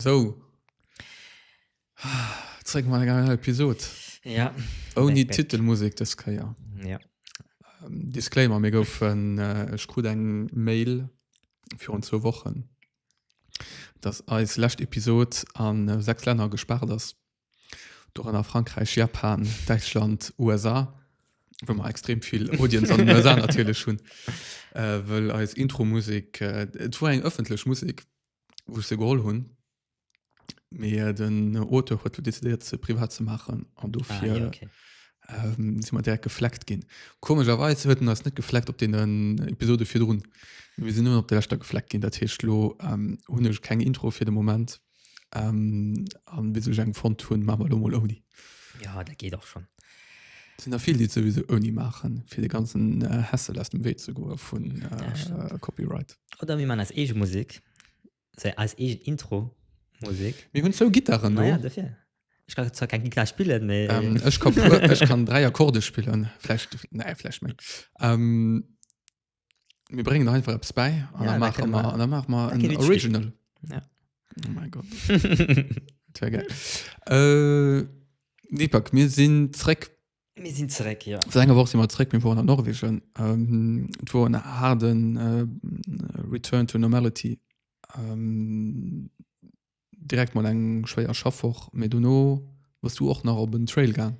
Sou. Zréck mat enger neier Episod. Ja. Ouni Back. Titelmusek dës Kéier. Ja. Ähm, Disclaimer, mir goufen, äh, ech krut eng Mail virun zwou Wochen, dass eis lescht Episod an äh, sechs Länner gespaart ass. Dorënner Frankräich, Japan, Däitschland, USA, wou mer extrem vill Audience an den USA natierlech hunn, äh, wëll eis Intro-Musek, äh, et war eng ëffentlech Musek, wou ech se geholl hunn. Mee den Auteur huet lo decidéiert ze privat ze maachen an dofir Ah, ja, okay. ähm, si mat direkt gefleckt ginn. Komegerweis huet en ass net gefleckt op den Episode virdrun. Wir sinn nur op der Leschter gefleckt ginn, dat heescht lo ähm, hunn ech keng Intro fir de Moment. Ähm, an bis ech eng fonnt hunn, maache mer lo mol ouni. Ja, dat geet och schon. Et sinn der vill, déi et souwisou ouni maachen, fir de ganzen äh, Hassel aus dem Wee ze goe vun Das äh, Copyright. Oder mir man eis eege Musik. Sei eis eegen Intro Musik. Mir hunn zwou Gittaren do. Ech kann zwar keng Gittar spillen, mee. Ähm, ech kann, ech kann dräi Akkorde spillen. Vläicht, nee, vläicht méi. Ähm, mir bréngen nach einfach eppes bäi an ja, dann maache mer, an dann maache mer en Original. Ja. Oh mein Gott. das wär geil. äh, Deepak, mir sinn zréck Mir sinn zeréck, jo. Seit enger Woch si mer zeréck, mir woren a Norwegen. Et wor en haarden Return to normality. Direkt mol eng schwéier Schaffwoch, mee dono wars du och nach op en Trail gaang.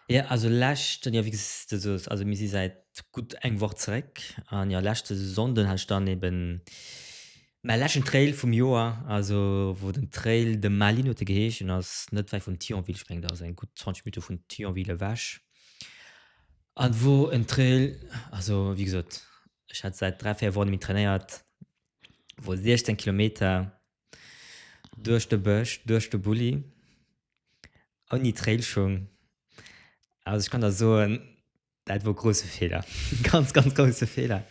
Jo, also leschten, jo wéi s de soos, also mir si säit gutt eng Woch zeréck. An jo, leschte Sonnden hat ech dann eben Mäi leschten Trail vum Joer, also wou den Trail de Malines huet e geheeschen, ass net wäit vun Thionville, ech mengen dat ass eng gutt 20 Minutte vun Thionville ewech. An wor en Trail, also wéi gesot, ech hat säit dräi, véier Wochen net méi trainéiert, wor 16 Kilometer duerch de Bësch, duerch de Bulli, ouni Trailschung. Also ech kann der soen, Daat wor grousse Fehler, ganz ganz grousse Fehler.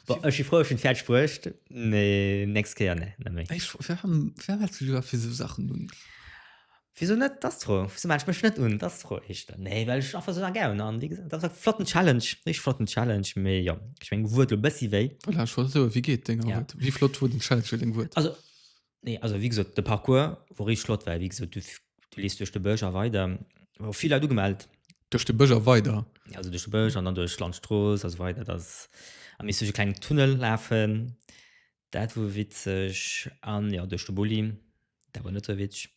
Bon ech si frou ech hun färdeg bruecht, mee nächst Kéier nee net méi. Ech fro wem wem hälls du iwwer fir sou Sachen un? Wieso net d'Astro? Wieso maachen ech mech net un d'Astro? Heescht dat nee well ech einfach sou nach gären an wéi gesot dat war flotten Challenge richteg flotten Challenge mee jo ech meng Wuert lo bessi wéi. Voilà ech wollt soe wéi geet deng Arbeit? Wéi flott wor den Challenge fir deng Wuert? Also Nee, also wie gesot de Parcours wor richteg flott, well wie gesot du du lees duerch de Bësch a weider, wor vill Leit ugemellt, Duerch de Bësch a weider? ja also duerch de Bësch an dann duerch d'Landstrooss a sou weider, dass a misst duerch e klengen Tunnel lafen, dat wor witzeg an jo duerch de Bulli, dat wor net sou witzeg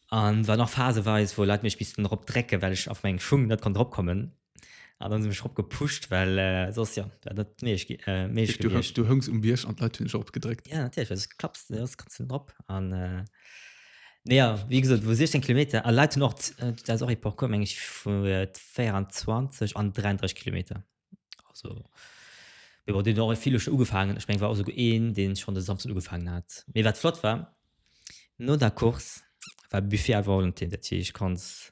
an war nach phaseweis wou Leit mech missten erop drecken, well ech a mengem Schung net konnt erop kommen. Ah, dann sinn mech op gepuscht, well äh, sos ja, wär dat méch äh, méch du, gewiescht. du hëngs um Bierg an d'Leit hunn sech opgedréckt. Ja, natierlech, well sos klapps du, sos kannst du drop. An äh, nee, ja, wéi gesot, wou 16 Kilometer, a Leit hunn och, äh, dat ass och e Parcours, meng ech, vu äh, 24 an 33 Kilometer. Also, mir war den och vill schon ugefaangen. Ech meng, war also een, deen schon de Samstag ugefaangen hat. Mee wat flott war, no der Course war Buffet à volonté, dat heescht, du kanns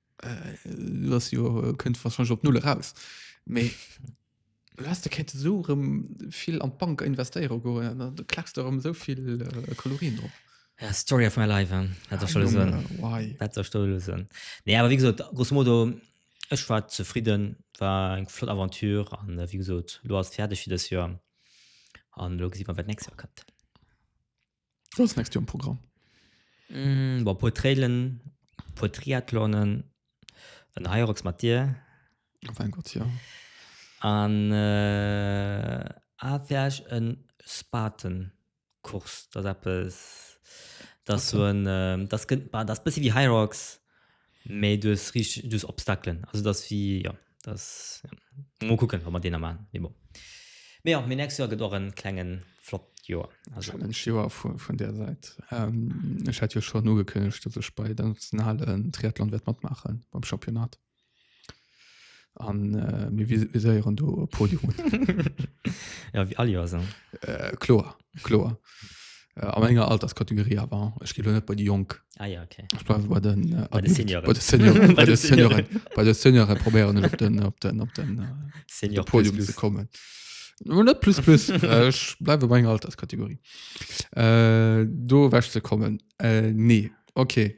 du hast jo äh, könnt wahrscheinlich op null raus me du hast der kette so rem viel an d'bank investieren go du klackst darum so viel äh, kalorien drauf Ja, Story of my life, hein. Ah, dat schon Junge, so. why? Dat der Story so. Nee, aber wie gesagt, grosso modo, ech war zufrieden, war eng flott Aventure an äh, wie gesagt, lo ass fertig für das Jahr. An lo gesehen wir, was nächstes Jahr kommt. Was nächst Joer am Programm? Mm, war puer Trailen, puer Triathlonen, en Hyrox mat dir. Oh mein Gott, ja. An äh, afäerch en Spatenkurs, dat eppes, das so en, äh, das, das bisschen wie Hyrox, Mee du hues riicht, du hues Obstaclen. Also dass wie, jo, dass, jo. Mol kucken, wat mer deeër maachen. Mee bon. Mee jo, mee nächst Joer gëtt och e klenge flott Joer. Also. Challenge Joer vun där Säit. Ech hat jo schonn ugekënnegt, dass ech bei der nationalen Triathlon wäert matmaachen, beim Championnat. An äh, mir viséieren do e Podium. ja, wie all Joer so. Äh, kloer, kloer. Äh, an enger Alterskategorie awer ech gi net bei de Jong ah, ja, okay. bei den äh, bei de Senioren bei de Seniore probéieren op den op den op den äh, Senior Podium plus, plus. ze kommen net plus plus äh, ech bleiwe bei enger Alterskategorie äh, do wäch ze kommen äh, nee okay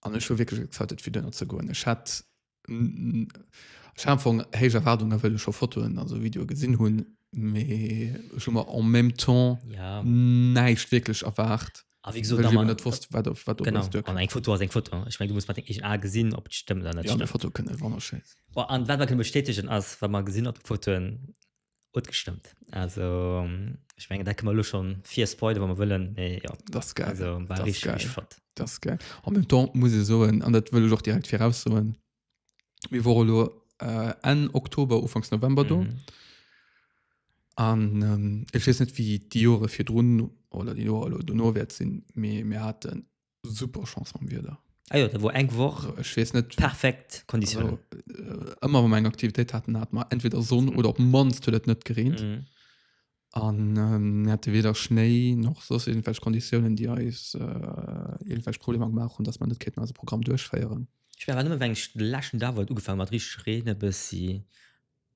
an ech hu wirklich excited fir dunner ze goen ech hat Schafung héich Erwardung well scho Fotoen also Video gesinn hunn mee schon mal en même temps ja. näicht wirklich erwacht Ah, wie gesagt, man, net wusst, wat, wat genau, an eng Foto as eng Foto ich mein, du muss mat eg A gesinn op stemmmen ja, Foto kënne wonnerschön an wat man kënne bestätigen ass wat man gesinn op Fotoen Huet gestëmmt. Also ech menge dat këmmer lo schon fir Spoiler wann man wëllen nee, ja. das geil also, war das richtig, geil. Richtig flott. das geil am même temps muss e soen an dat wëll och direkt fir aussoen mir wore lo äh, en Oktober ufangs November do mhm. an mhm. ähm, ech wees net wie die Jore fir run oder die Jore lo du nowert sinn mir mir hatten super Chance am Wieder. Ah ja, da war eng Woch also, ich weiß nicht, perfekt Kondition. Also, äh, immer wenn wir eine Aktivität hatten, hat man entweder Sonne mhm. oder ob manst hat es nicht geregnet. Mhm. Und ähm, hatte weder Schnee noch so irgendwelche Konditionen, die uns äh, irgendwelche Probleme gemacht haben, dass man nicht unser Programm durchführen. Ich war immer, wenn ich letzten Tag angefangen hat, richtig regnen, bis sie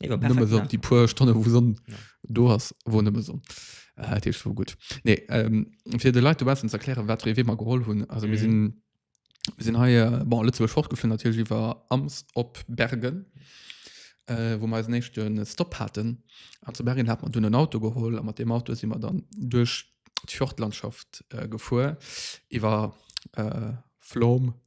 Nee, war perfekt, Nëmme Sonn, ne? die puer Stonne wou Sonn Ja. do ass, wor nëmme Sonn. Äh, Dat heescht wor gutt. Nee, ähm, fir de Leit dobaussen ze erklären, wat fir ee Wee mer geholl hunn. Also mir Mhm. sinn mir sinn hei äh, bon, a Lëtzebuerg fortgeflunn, natierlech iwwer Ams op Bergen, äh, wou mer eisen éischte Stop haten. An zu Bergen hat mer dunn en Auto geholl a mat deem Auto si mer dann duerch d'Fjordlandschaft äh, gefuer, iwwer äh, Flom,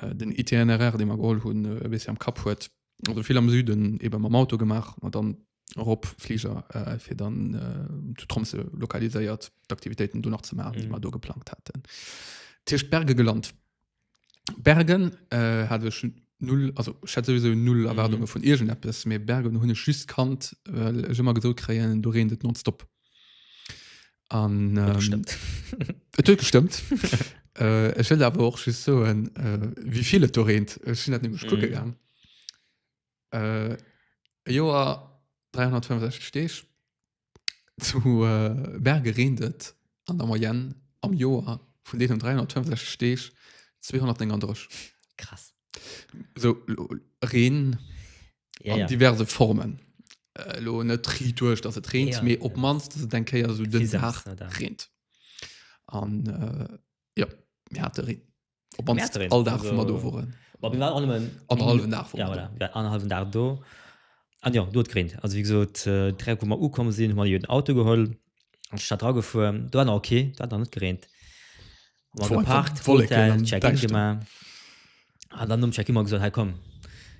äh, den Itinéraire, den mer geholl hunn, äh, e bëssi am Kapp huet. Also vill am Süden, eben mam Auto gemaach, an dann erop Flieger, äh, fir dann äh, zu Tromsø lokaliséiert d'Aktivitéiten do nach ze maachen, déi mer do geplangt hatten. Tiercht Berge gelant. Bergen äh, hat ech null, also ich hatte sowieso null Erwartungen vun irgendetwas, mä Bergen hunn ech just kannt, well ech ëmmer gesot kréien, do reent et nonstop. An, ähm, gestimmt. Et huet gestimmt. äh, ech will awer och just soen, äh, wie vill et do reent. Ech sinn dat nämlech kucke Mhm. gang. Äh, e Joer 365 Deeg. Zu äh, Berge reent et an der Moyenne am Joer vun deenen 365 Deeg 239. Krass. So, lo- Reen, ja, ja. diverse Formen äh, lo net tri duerch dass et rent ja, mir op manst ja. denke ja so den Tag rent an äh, ja mir hat rent op manst all Tag also, do woren aber wir waren alle mal anderthalben Tag ja, voilà, wir anderthalben Tag do an ja dort rent also wie gesagt äh, drei Komma u kommen sind mal den Auto geholt an Stadt dragefuhr du war okay da dann net gerent Ma Vor- geparkt, Wolken Hotel, am Check-in Däischteren. gemacht. An dann um Check-in mal gesagt, hey komm,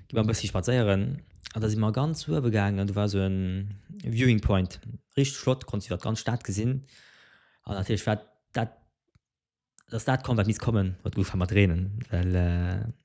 geh mal ein bisschen spazieren. Und da sind wir ganz zu oben gegangen und da war so ein Viewing Point. Richtig flott, konntest du die ganze Stadt gesehen. Und natürlich war das das kommen, was muss kommen, was gut war mit Regen. Weil, äh,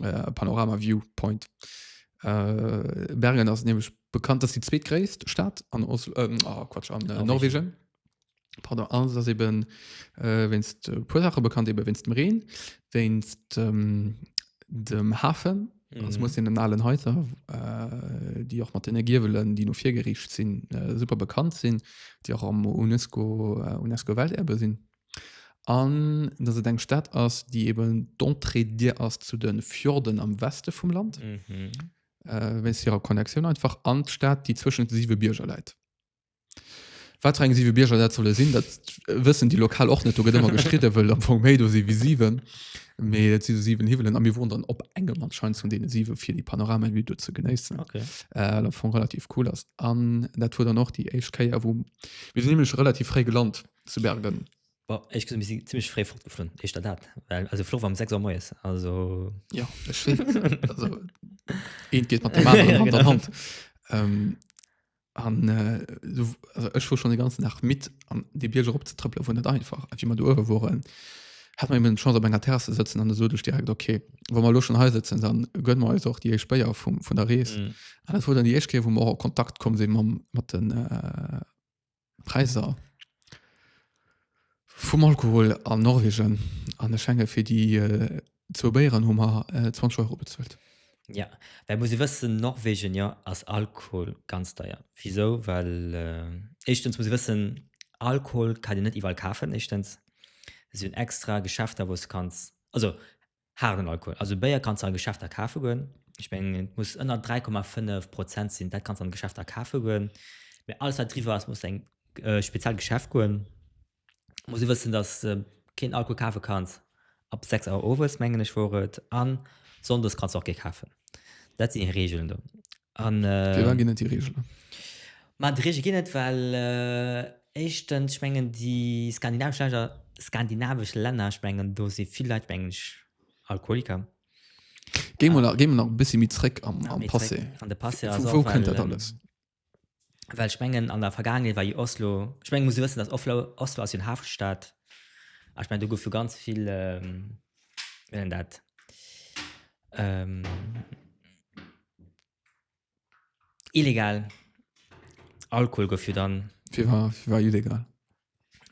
äh, Panorama View Point. Äh, Bergen ass nämlich bekannt, dass die zweetgréisst Stadt an Oslo, ähm, oh, Quatsch, an äh, Norwegen. Pardon, alles ass eben äh, wennst äh, puer Sache bekannt eben wennst dem Reen, wennst ähm, dem Hafen Mhm. Das muss in den allen Häuser, äh, die auch mat den Giwelen, die no vir gerichtet sinn, äh, super bekannt sinn, déi och am UNESCO, äh, UNESCO Welterbe sinn. An dass et eng Stad ass, déi eben d'Entrée dir ass zu de Fjorden am Weste vum Land, wéinst hirer Connectioun einfach, an d'Stad, déi zwëschen de siwe Bierger läit. Wat fir eng siwe Bierger dat solle sinn, dat wëssen déi Lokal och net. Do gëtt ëmmer gestridde wëll am Fong méi do si wéi siwen. Mee et si sou siwen Hiwwelen a mir woren dann op engem anscheinend vun deene siwe fir déi Panoramavue do ze genéissen, wat am Fong relativ cool ass. An dat wor dann och déi éischt Kéier, wou mir sinn nämlech relativ fréi gelant, zu Bergen. Bon, ich gesehen, wir sind ziemlich frei fortgeflogen. Ich da dat. Weil, also, Flug war um 6 Uhr morgens. Also. Ja, ich weiß. also, ein geht mit dem anderen ja, Hand genau. an Hand. Ähm, an, äh, so, also ich war schon den ganzen Tag mit, an die Bierger abzutrippeln, war nicht einfach. Als wir mal da oben waren, hat man eben eine Chance, auf einer Terrasse zu sitzen, und dann so direkt, okay, wenn wir schon hier sitzen, dann gönnen wir uns auch die Speyer von, von der Reise. Mhm. Und das war dann die erste, wo wir auch in Kontakt gekommen sind mit, mit den, äh, Präisser vum Alkohol an Norwegen an der Schenge fir déi äh, zwou Béieren hu mer äh, 20 Euro bezuelt. Ja, well muss e wëssen, Norwegen ja ass Alkohol ganz deier. Wisou? Well äh, éischtens muss e wëssen, Alkohol kann een net iwwerall kafen, éischtens. Si hunn extra Geschäfter, wou s de kanns, also Haarden Alkohol, also Béier kanns de a Geschäfter kafe goen. Ech mengen et muss ënner 3,5 Prozent sinn, dat kanns de an Geschäfter kafe goen. Mee alles wat driwwer ass muss eng speziell Geschäft goen. Muss e wëssen, datt de keen Alkohol kafe kanns ab 6 Auer owes mengen ech wor et. An Sonndes kanns de och kee kafen. Dat sinn déi Reegelen do. An, Fir wat ginn et déi Reegelen? Ma déi Reegele ginn et, well éischtens, ech mengen, déi skandinavesch Länder, skandinavesch Länner, ech mengen, do si vill Leit, mengen ech, Alkoholiker. Géi mol nach, géi mol nach e bëssi méi zréck am, am Passé. An de Passé ass och, well. Wou kënnt dat alles? Well ech mengen, an der Vergaangenheet war jo Oslo, ech mengen, muss e wëssen, datt Oflo, Oslo ass jo en Hafenstaat. A ech mengen, do gouf jo ganz vill, wéi nennt een dat? Illegal. Alkohol gouf jo dann. Wie war, wie war illegal?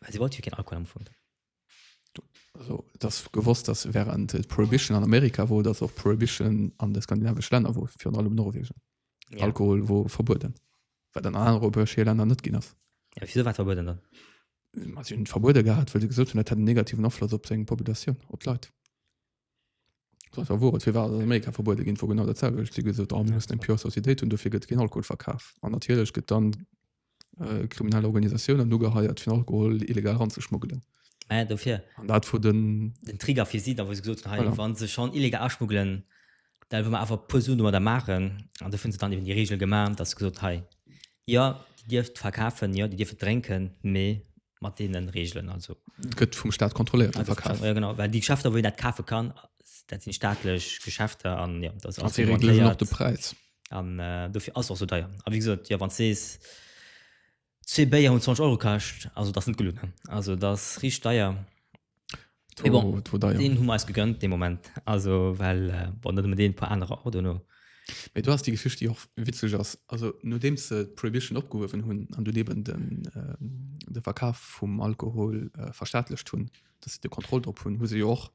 Weil sie wollte ja keinen Alkohol am Fund. Also, das gewusst, dass während äh, Prohibition an Amerika wo, dass auch Prohibition an den skandinavischen Ländern wo, für allem Norwegen. Ja. Alkohol wo verboten. Weil dann andere europäische Länder nicht gehen ist. Ja, wieso war verboten dann? Man hat ihn verboten gehabt, weil sie gesagt haben, das hat einen negativen Einfluss auf seine Population, auf die Leute. Dofir wor et, fir wat ass an Amerika verbuede ginn, wor genau dat selwecht. Si hu gesot, oh mir mussen eng pure Societéit hunn, dofir gëtt keen Alkohol verkaf. An natierlech gëtt dann kriminell Organisatiounen ugeheiert, fir Alkohol illegal eranzeschmuggelen. Mä dofir. An dat wor den. Den Trigger fir si da, wou se gesot hunn, hei, wa se schonn illegal aschmuggelen, da wëlle mer awer e puer Suen domadder maachen. An dofir hunn se dann eben déi Reegel gemaach, dass se gesot hunn, hei, Jo, Dir dierft et verkafen, jo, Dir dierft et drénken, mee mat deenen Reegelen. Also. Et gëtt vum Staat kontrolléiert, de Verkaf. Jo, genau, well déi Geschäfter, wou een dat kafe kann, dat sinn staatlech Geschäfter an, jo, dat ass alles reglementéiert. A si reegelen och de Präis. An dofir ass et och esou deier. A wéi gesot, jo, wann s de sees, zwee Béier hunn 20 Euro kascht, also dat ass net gelueden. Also dat ass richteg deier. Et war bon, war deier. Deen hu mer eis gegönnt dee Moment, also well bon net ëmmer deen, e puer anerer och duerno. Mee do ass déi Geschicht déi och witzeg ass, also nodeems se d'Prohibition opgehuewen hunn an dunn eben den de Verkaf vum Alkohol verstaatlecht hunn, datt se de Kontroll drop hunn, hu se jo och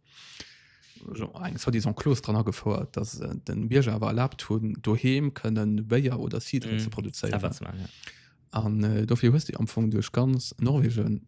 eng soi-disant Clause dran agefouert, datt se de Bierger awer erlaabt hunn doheem kënnen Béier oder Cidre ze produzéieren. Selwer ze maachen, ja. An dofir hues de jo am Fong duerch ganz Norwegen.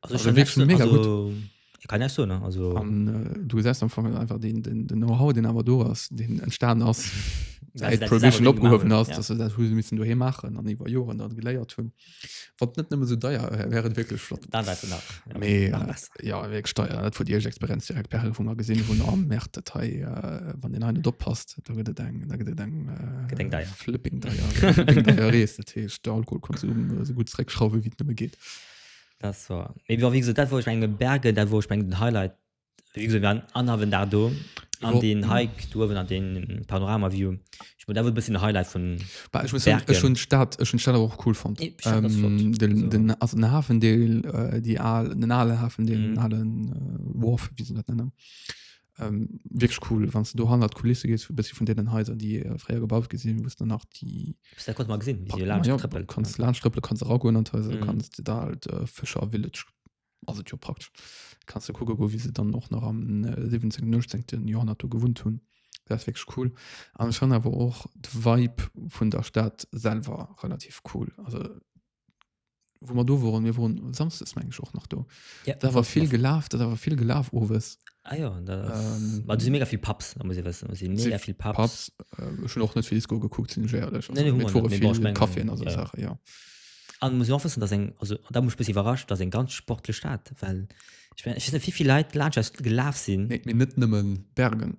Also ich kann net so, mega also, gut. Ich kann net so, ne? Also Und, äh, du gesest am Fong einfach den, den, den Know-how den awer do ass den entstan ass seit Prohibition opgehowen ass dass dat hu missen du he machen an iwwer Joren dat geléiert hunn wat net nëmme so deier äh, wären wirklich flott dann wärst du nach ja, Mais, nach äh, besser. ja weg steier dat vu Dir Experiz direkt per vu mal gesinn hunn am Mä Datei äh, wann den einen oppasst da gëtt et eng da gëtt et eng äh, Gëtt eng deier. flipping deier Flipping deier Rees dat heescht der Alkoholkonsum äh, so gut zréckschrauwe wie et nëmme geht Das war. Mee wie gesagt, dat wor ech meng Berge, dat wor ech meng den Highlight. Wie gesagt, wir waren anhawen Dag do. An Jo. den Hike do uewen an den Panoramaview. Ich mein, dat wor e bësschen den Highlight vun Bah, ech muss soen, Bergen. ech hunn d'Stad, ech hunn d'Stad awer och cool fonnt. Nee, d'Stad ass flott. Ähm, den, Also- den, also den Hafendeel, äh, déi al, den ale Hafendeel, den Mhm. alen, äh, Wharf, wéi se dat nennen. ähm, wirklich cool wann du do hannert Kulisse gehst bis von denen Häuser die äh, freier gebaut gesehen wo dann nach die da konnte man gesehen wie ja, Tröppel, kannst ja. Landströppel kannst auch gehen und Häuser mhm. kannst da halt äh, Fischer Village also ja praktisch kannst du gucken wo wie sie dann noch noch am äh, 17 19 Jahrhundert gewohnt haben das wirklich cool aber schon aber auch Vibe von der Stadt selber relativ cool also wo man do waren mir waren samstags mein ich auch noch do ja, da war viel gelaf da war viel gelaf owes ah, ja, ähm, sind mega viel Paps muss ich wissen sind mega viel Paps, Paps äh, schon auch nicht viel Disco geguckt sind nee, also, nee, mit vor viel ich mein, Kaffee also ja. Sache ja an muss auch wissen dass ein, also da muss bisschen überrascht dass ein ganz sportlich Staat weil ich meine ich weiß nicht wie viel Leute Landschaft gelaf sind nee, nicht nimmen Bergen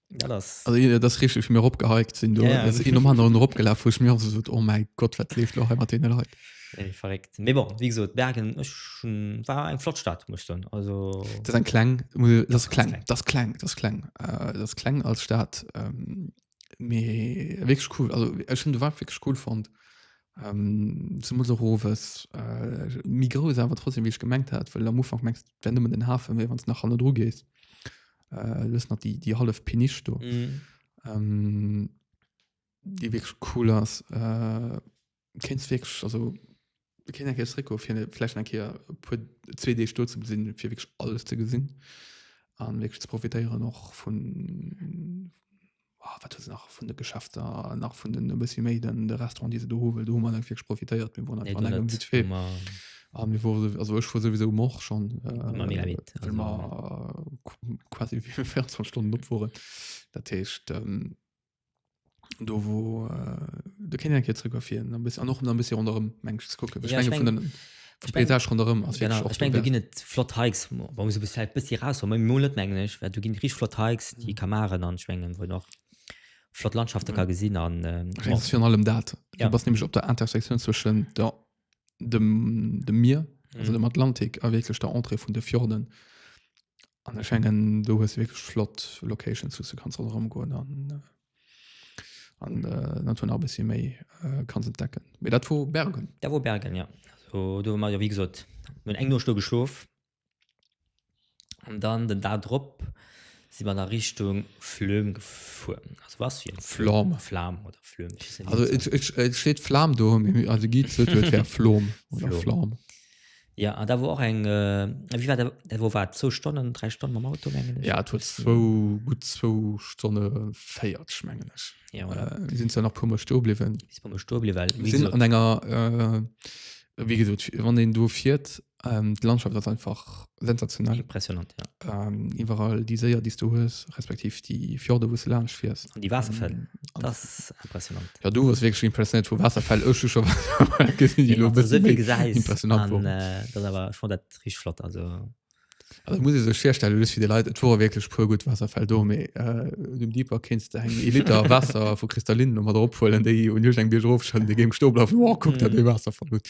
Ja, das. Also, ja, das richtig mir opgeheikt sind du ja, ja. um anderen opgelaf ich mir so, oh mein Gott wat lebt noch immer den Leute nee, verrückt nee, bon, wie gesagt, Bergen ich, war ein Flottstadt muss dann also das ein klang das klang das klang das klang äh, das klang als Staat ähm, wirklich cool also äh, schon war wirklich cool fand ähm, zum Roves äh, Migro ist aber trotzdem wie ich gemengt hat weil am Anfang merkst wenn du mit den Hafen wenn es nach Hanno Dr gehst äh, lëss nach die, die half Pinisch do. Mm. Ähm, die wirklich cool ass. Äh, kennst wirklich, also, wir kennen ja Rico, für vielleicht ein Kehr, für zwei Tage dort zu sehen, für wirklich alles zu gesehen. Und wirklich zu profitieren auch von, oh, wat se nach vun de Geschäfter nach vun den bëssi méi den de Restaurant diese do huwel do man enng virg profitéiert mir won einfach engem wit fir Ah, mir wo also ech fuhr sowieso mor schon äh, quasi wie 24 Stunden opfuhren dat hecht ähm, do wo äh, de kennen en Kierzegrafien bis an noch bis run mensch gucken ja, ich mein, Ech meng, Etage ronderëm ass genau, wirklich och ech meng do ginn dobärs. et flott Hikes, ma wa muss e bis vläicht bëssi raus, ma mol net mengen ech, well do ginn rich flott Hikes, déi ka maachen an ech mengen wou en och flott Landschafte ka gesinn an Ech meng et ass virun allem dat, du Ja. bass nämlech op der Intersektioun zwëschen der dem dem Mier, also dem Atlantik a wierklech der Entrée vun de Fjorden. An ech mengen do hues de wierklech flott Locations, wou s de kanns ronderëm goen an an d'Natur nach e bëssi méi kanns entdecken. Mee dat wor Bergen. Dat wor Bergen, jo. Do hu mer jo, wéi gesot, mir hunn eng Nuecht do geschlof an dann den Dag drop si mer da Richtung Flöhm gefuer. Also was fir en Flom? Flam oder Flöhm, ech weess net, wéi se. Also et steet Flam do, mee de Guide sot, et wär Flom oder Flam. Ja an da wor och eng äh, wie war dat, dat wor wat zwou Stonnen, dräi Stonne mam Auto mengen ech. Ja et huet zwou gutt zwou Stonne 40 mengen ech. Ja voilà. Äh, mir sinn zwar nach puer Mol stoe bliwwen. Bis puer Mol stoe bliwwen, well mir sinn an enger äh, wéi gesot wann een do fiert, ähm, d'Landschaft ass einfach Sensationell. Impressionant, ja. Ähm, iwwerall déi Séier, déi du hues, respektiv déi Fjorde, wou du laanscht fiers. An déi Waasserfäll, ähm, das ist impressionant. Ja, du warst wirklich impressionant vu Waasserfäll. Ech hu scho Waasserfäll gesinn, déi lo bëssen méi gesäis, impressionant waren. Äh, dat awer, ech fand dat richtig flott, also. Also muss ich sech firstellen, just fir de Leit, et wore wirklich puer gutt Waasserfäll do, mee äh, dem Deeper kéinst de eng e Liter Waasser vu Kristallinen no mat erophuelen, déi un iech eng Bierg erofschëllen, dee géing Stoblaf, wow, kuck da, dee Waasserfall gutt.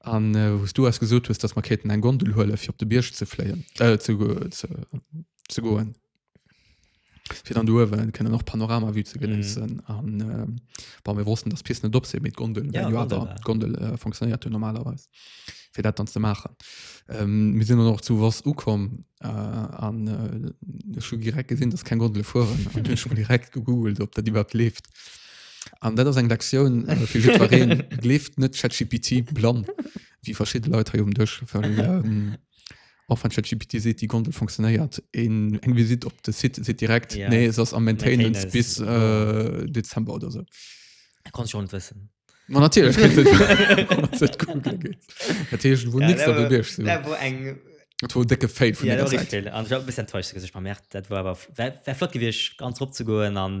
An wou s du eis gesot hues, dass mer kéinten eng Gondel huelen, fir op de Bierg ze fléien, ze goen, fir dann do uewe kënnen och d'Panoramavue ze genéissen. An bon, mir wossten, dass d'Pisten net op sinn, mee d'Gondel well jo awer. D'Gondel fonctionéiert jo normalerweis, fir dat dann ze maachen. Mir sinn dann och zu Voss ukomm an ech hu direkt gesinn, dass keng Gondele fueren. An ech hunn direkt gegoogelt, ob dat iwwerhaapt leeft. An dat ass eng Lektioun fir jiddwereen, Gleeft net ChatGPT blann, wéi verschidde Leit hei um Dësch, well och wann ChatGPT seet, déi Gondel funktionéiert, een eng Visitt op de Site seet direkt, Ja. nee, se ass am Maintenance Maintenance, bis jo. äh, Dezember oder sou. Dat konnt ech och net wëssen. Ma natierlech kritt et wann et googlen geet. Dat heescht, wor nix dat op Iech sou. Dat wor eng, Dat wor e décke Fail vun ja, dat enger wor Säit. richteg fail. An ech war e bëssi enttäuscht, muss ech bei Merck, dat wor awer, wär, wär flott gewiescht, ganz erop ze goen an,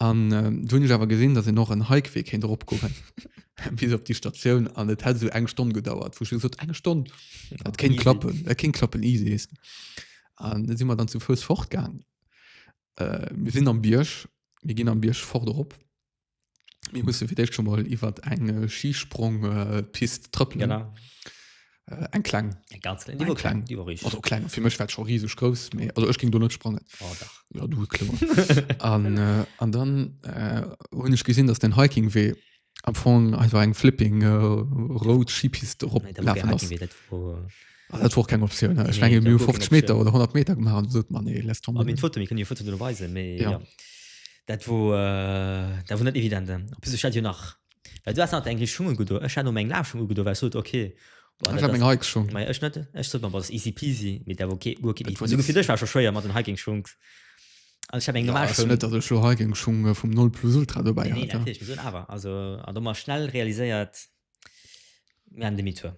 An du hunn ech awer gesinn, datt een och en Hikewee kéint eropgoen bis op déi Statioun an et hätt esou eng Stonn gedauert, wou ech dann gesot, eng Stonn, dat kéint klappen, dat kéint klappen, easy. An da si mer dann zu Fouss fortgaang. Mir sinn am Bierg, mir ginn am Bierg fort erop. Mir musse fir d'éischt scho mol iwwert eng Schispronngpist trëppelen. Genau. eng kleng eng ganz klein, die war klein, die war richtig. Also klein für mich war schon riesig groß mehr also ich ging du nicht sprangen oh, ja du an, äh, an dann äh, und ich gesehen dass den hiking weh am Fong einfach eng flipping äh, road schipiste op dat vor keine Option nee, ich mein, nee, 50 Me oder 100 Me gemacht so, man, nee, lässt Foto, Foto weisen, ja. ja. dat wo äh, dat wo net evident bis nach Well du haas nach eng Richtschung ugedo. Ech hat no meng Lafschung ugedo, well ech sot ok, boah, Ech dat hat meng ass. Hike-Schung. Maja, ech net. Ech sot mer, boah, dat ass easy peasy, mee dat war okay, guer keen Dat easy. war Esou nix. gefilt, ech war scho schwéier mat den Hiking-Schung. Also ech hat meng Ja, normal ass jo Schung. net, datt ech lo Hiking-Schung vum Nolplus Ultra dobäi Nee, hat. natierlech, mee soen awer, also, an do mar schnell realiséiert, Mir demi tour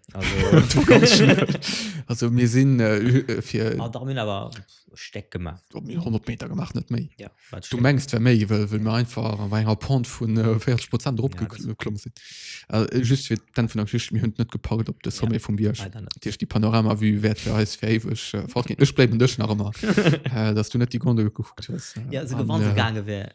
also mir sinn äh, fir ah, da mir awer steck gemacht op mir 100 meter gemacht net méi ja, du mengst wer méi well mir einfach an enger pont vun 40 äh, prozent drop ja, geklomm sinn äh, just fir dann vun der geschicht mir hunn net gepackt op de sommet ja, vum biersch dirch die panorama wie wert fir eis fäwech äh, fort ech bleiben dech nach ëmmer äh, dass du net die gondel gekuckt hues äh, ja se gewann äh, gange wär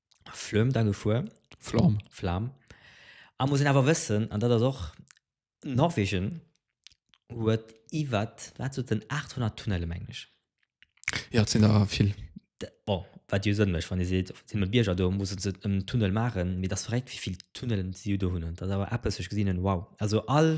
Flöm da gefuer. Flam. Flam. A muss een awer wëssen, an dat ass och, Norwegen huet iwwer, wat sot en, 800 Tunnelle mengen ech. Ja, et sinn der vill. Bon, wat jo Sënn mécht, wann ee seet, et sinn e Bierger do, musse se en Tunnel maachen. Mee et ass verréckt, wéi vill Tunnellen si do hunn. Dat ass awer eppes, wou ech gesinn hunn, wow. Also all.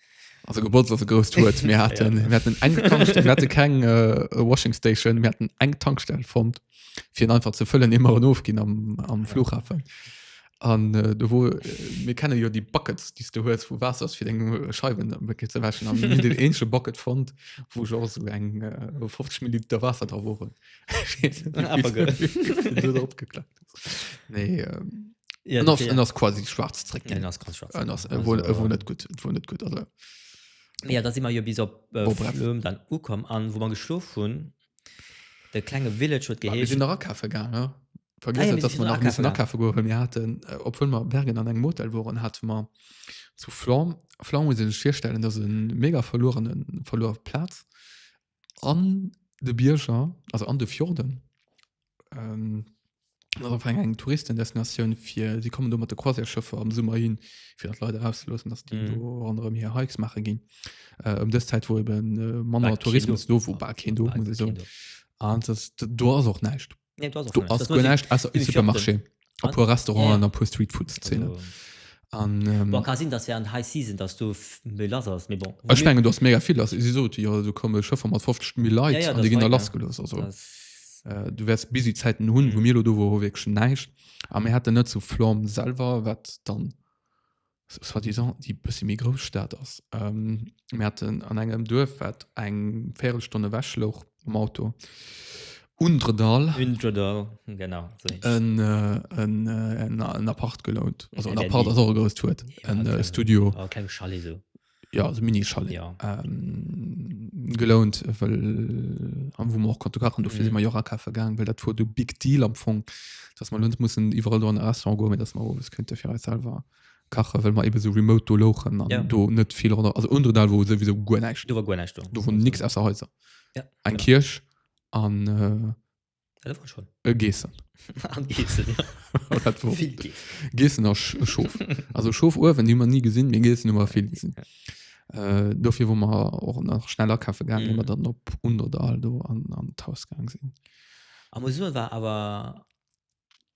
Also Geburtstag ass e grousst Wuert. Mir hatten, ja. mir hatten eng Tankstelle, wir hatten keng äh, Washing Station, mir hatten eng Tankstelle fand, fir en einfach ze fëllen, immer en ofginn am, am Flughafen. An äh, do wo äh, mir kennen jo die Buckets, die du hues, wo Wasser ass fir deng Scheiben wirklich ze wäschen. An mir hunn den ensche Bucket fand, wo jo so eng äh, 50 Milliliter Wasser dra woren. Einfach gëtt. opgeklappt. Nee, ähm, Ja, En ass, okay, en ja. ass quasi schwarz zréck Den ginn. ass ganz schwarz. En ass, e wor, e Also, wor net gutt, et wor net gutt, also. Mee ja, da si mer jo bis op äh, Bon, bref. Flöhm dann ukomm an wou mer geschlof hunn. De klenge Village huet Ah, mir geheescht. sinn nach akafe gaang, ne? Ah, ja, Vergiess mir net, dass sinn mer nach nach akafe missen gaang. akafe goen, well mir haten, äh, obwuel mer Bergen an engem Hotel woren, hate mer zu Flöhm, Flöhm muss een sech virstellen, dat ass e mega verluerenen, verluer Plaz, An de Bierger, also an de Fjorden. Ähm, ass einfach eng, eng Touristendestinatioun fir, si kommen do mat de Croisière-Schëffer am Summer hin, fir dat d'Leit erauszeloossen, dass déi Mhm. do ronderëm hir Hikes maache ginn. Äh, ëm dës Zäit, wou eben äh, manner Bal keen Tourismus do. do, wou bal keen do, muss Bal ich soen. keen do. An das, do ass och näischt. Nee, du hast auch Du schon recht. ass Das muss guer ich- näischt ausser e ich hab Supermarché, den- a puer Restauranten Ja, ja. a puer Streetfood-Szenen. Also, An, ähm, boah, kann sinn, dass während High Season, dass du f- méi lass ass, mais bon. Vu ech mir- mengen, du ass mega vill lass. Si sot, jo, do komme Schëffer mat 50 Mill. Leit Ja, ja, an das déi ginn da war ja- lass gelooss. Also, das- äh, du wärs busy Zäiten hunn, wou Mhm. mir lo do wor, wor wierklech näischt. A mir hatten net zu Florm selwer, wat dann soit disant déi bëssi méi grouss Stad ass. Ähm, mir hatten an engem Duerf, wat eng Viertelstonne ewech louch am Auto. Undredall. Undredall, genau. En, äh, en, äh, en, en Appart gelount. Also en Appart ass och e grousst Wuert. En äh, Studio. Oh, keng Chalet so. ja also mini chalet ja. ähm, gelount weil äh, am wo man auch konnte kachen dafür mhm. sind wir Jora Kaffee gegangen weil das war du big deal am Fong dass man uns müssen überall da ein Restaurant gehen dass man was könnte für uns selber kachen weil man eben so remote do lochen und ja. do nicht viel oder also unter da wo sowieso gar nicht du war gar nicht du von nichts außer Häuser ja, ein genau. Kirsch an äh, Äh, Geessen. Geessen, ja. Geessen a Schof. Also Schof Uewen hummer nie gesinn, mé Geessen hummer vill gesinn. Äh, dofir wo mer och nach schneller kaffe gang, mm. dann op un oder Aldo an, an d'Hausgang sinn. Am Uewen war awer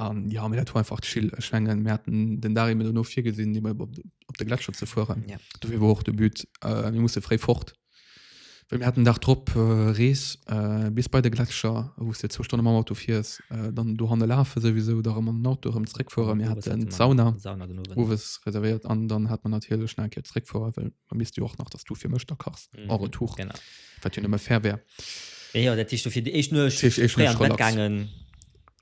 Um, ja mir dat war einfach chill ech mengen mir hatten den Dari mir no vir gesinn de op op de Gletscher ze fuhren ja. du wie wo och de Büt äh, mir musse fré fort Well mir hatten Dach drop äh, Rees äh, bis bei de Gletscher wo de zo Stunde am Auto fiers äh, dann du hanne lafe sowieso da am Auto rem zréck fuhren mir hat den Sauna Uwes reserviert an dann hat man natile schnell ke zréck vor well man misst du och nach dass du fir mech da kachs mhm. eure Tuch wat hun immer fair wär. Ja, dat du fir de eich nur gangen.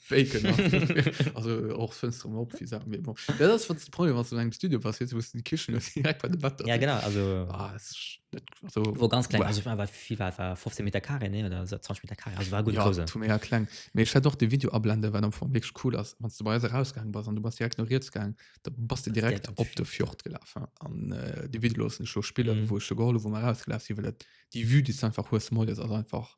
Faken also och Fënster um op, wie sagt mir bon. Ja, das wat de Problem was an engem Studio passiert, wou's du die Kichen hues direkt bei de Bett. Ja genau, also Ah, es ist net also war ganz kleng, also war war wie war war 15 Meter carré nee oder so 20 Meter carré, also war gutt Ja, grouss. tu mir ja kleng. Mee ech hätt och de Video ablende well am Fong wierklech cool ass. Wann s du bei eis erausgaang bass an du bass direkt no riets gaang, da bass de direkt direkt op op de Fjord gelaf hein. an äh, de Video loossen ech lo spillen, Mhm. wou ech jo geholl hu wou mer erausgelaf si well et déi Vue déi s du einfach hues moies ass einfach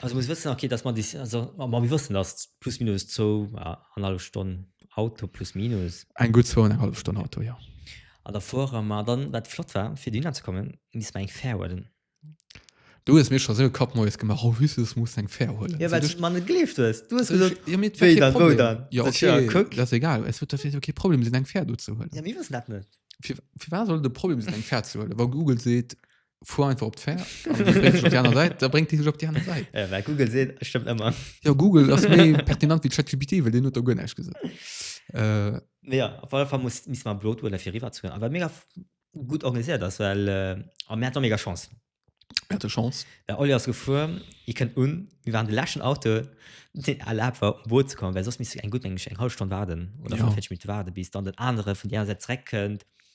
Also muss wëssen okay, dass man dis, also ma mir wëssen, dass plus minus zou anhalb Stonn Auto plus minus. Eng gutt zou anenghallef Stonn Auto, jo. An der Foire, ma dann wat flott war fir dohinner ze kommen, misst mer eng Fär huelen. Du hues mir scho sou e Kapp Moies gemaach, oh husse s muss eng Fär huelen. Jo well s mer net gleeft hues. Du hues gesot, wéi dann, wou dann? Jo okay, kuck. Ass egal, et huet jo kee Problem sinn eng Fär do ze huelen. Jo mir wëssen dat net. Firwat soll et e Problem sinn eng Fär ze huelen, wa Google seet, fuhr einfach op d'Fär da bringt die op die andere Seite ja, äh, Google se stimmt immer ja Google das pertinent wie ChatGPT will den not gun gesinn äh, ja auf alle Fall muss miss man blot oder fir riwer zu aber mega gut organisiert das well äh, am Mä mega Chance hatte Chance der Olli as gefu ich kennt un wie waren de lächen Auto den erlaubt war um Boot zu kommen weil sos miss eng gut eng eng halb Stunde warden oder ja. mit warde bis dann den andere vun der se zreckend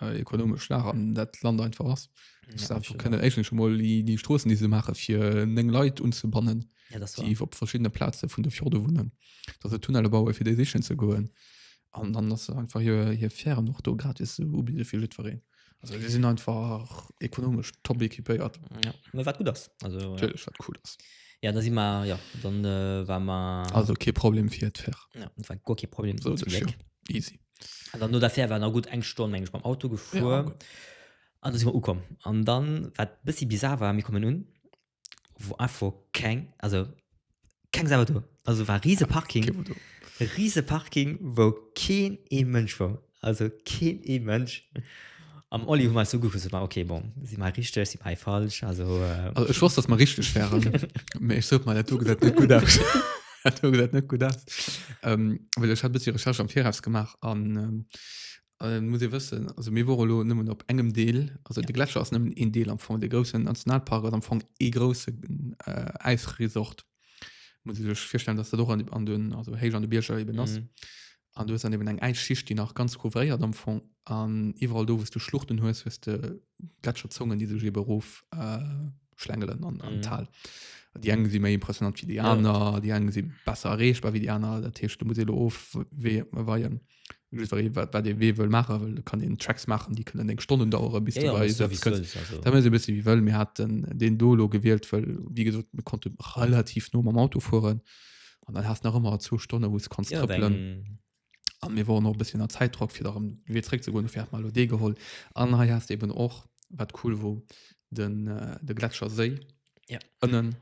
äh, ekonomesch Lag an dat Land einfach ass. Ja, Ja, einfach können eigentlich schon mal die, die Straßen, die sie machen, für neng Leute unzubannen, ja, das war. die auf verschiedene Plätze von der Fjorde wohnen, dass sie Tunnel bauen, für die sichern zu gehen. Und dann, dass sie einfach hier, hier Fähren noch da gratis anbieten für jeden. Also, wir sind einfach ekonomisch top equipiert. Ja, mir war gut das. Also, ja. Natürlich, was cool ist. ja, da si mar ja dann äh, war mar Also, kein Problem für die Fähr. ja, war go ke Problem So, zum das ist ja Glück. easy. an dann no der Fähr war na gutt eng Stonn mengen ech mam Auto gefuer ja, an da si mer ukomm an dann wat bëssi bizar war mir kommen un wo einfach keng also keng Sau do also war riese Parking riese Parking wou keen ee Mënsch war also keen ee Mënsch. Am Oli hun mer so gucke so ma okay bon si mer richteg si mei falsch also also ech wosst dass mer richteg wären mee ech sot mal dat do gesäit net gutt aus dat do gesäit net gutt aus ähm well ech hat e bëssi recherche am viraus gemaach an ähm äh muss ee wëssen also mir wore lo nëmmen op engem deel also de gletscher ass nëmmen een deel am fong dee groussen nationalpark ass am fong ee groussen äh äisresort muss ich sech virstellen dass dat och an, an den also héich an de Bierger eben ass mhm. an du hast dann eben eng Äisschicht die nach ganz couvréiert am Fong an iwwerall do wost du Schluchten hues hues de Gletscherzungen die sech eben rof äh, schlängelen an, an mhm. Tal die engen si méi impressionant wie die aner ja. die engen si besser erreegbar wie die aner der Tisch du muss of weien. Just weil wat, wat ee wee wëll maache wëll, kann een Tracks maachen, déi kënnen eng Stonnen dauere bis du bei Sätz kënns. Da wëll se e bësse wéi wëll. Mir haten deen do lo gewielt, well wéi gesot mir konnte relativ no mam Auto fueren an dann has nach ëmmer zwou Stonne wou s kanns trëppelen. An mir woren och e bësschen a Zäitdrock fir erëm wee zréck ze goen, dofir hat mer elo dee geholl. An hei has de eben och, wat cool wor, den, de Gletscherséi ënnen.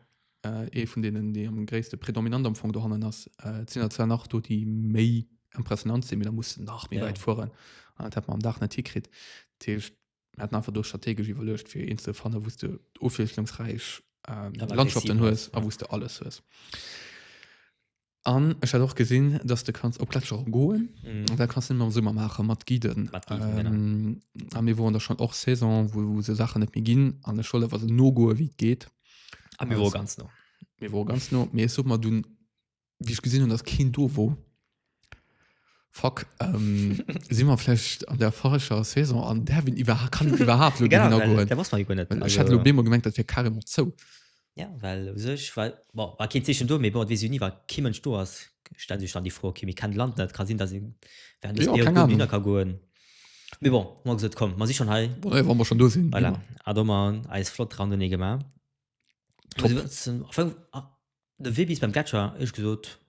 Äh, ee vun deenen, déi am gréisste, predominant am Fong dohannen ass. Äh, et sinn der zwar nach do, déi méi impressionant sinn, mee da muss nach méi ja. weit fueren. An dat hat man am Dach net hikritt. Dat heescht, mir hatten einfach do strategesch iwwerlecht, fir een ze fannen, wous du ofwiesslungsräich ähm, Landschaften hues a wous du alles hues. An ech hat och gesinn, dass de kanns op Gletscher och goen. Mhm. Da kannst du am Summer maache mat Giden. Mat Giden, genau. Ähm, a mir woren da schon och Saison, wo, wo se Sachen net méi ginn an ech solle was no goe wéi et geht. Am Büro Also- ganz no. Mir wor ganz no. Mir such mal dun, wie ich gesinn hun, dass keen do wor. Fuck, ähm, si mer vielleicht an der falscher Saison an Derwin iwwer kann iwwerhaapt lo Gidder goen. der was man jo net. Well ech hat lo bemol gemengt, dat wär carrément zou. Ja, well u sech war, bon, war keen Zeechen do, mee bon, et weess ee jo ni, wa kee Mënsch do ass, stellt sech dann déi Fro, okay, mir kennen d'Land net, ka sinn, dass ee während dësem Jo, Period keng gutt Ahnung. hinner ka goen. Mee bon, mer hu gesot, komm, mer si schonn hei, Bon, nee, wa mer schonn do sinn. voilà, Immer. hat och mer eis flott Randonnée gemaach. Top. Also, zum Anfang, ah, de Wee bis beim Gletscher, ech gesot,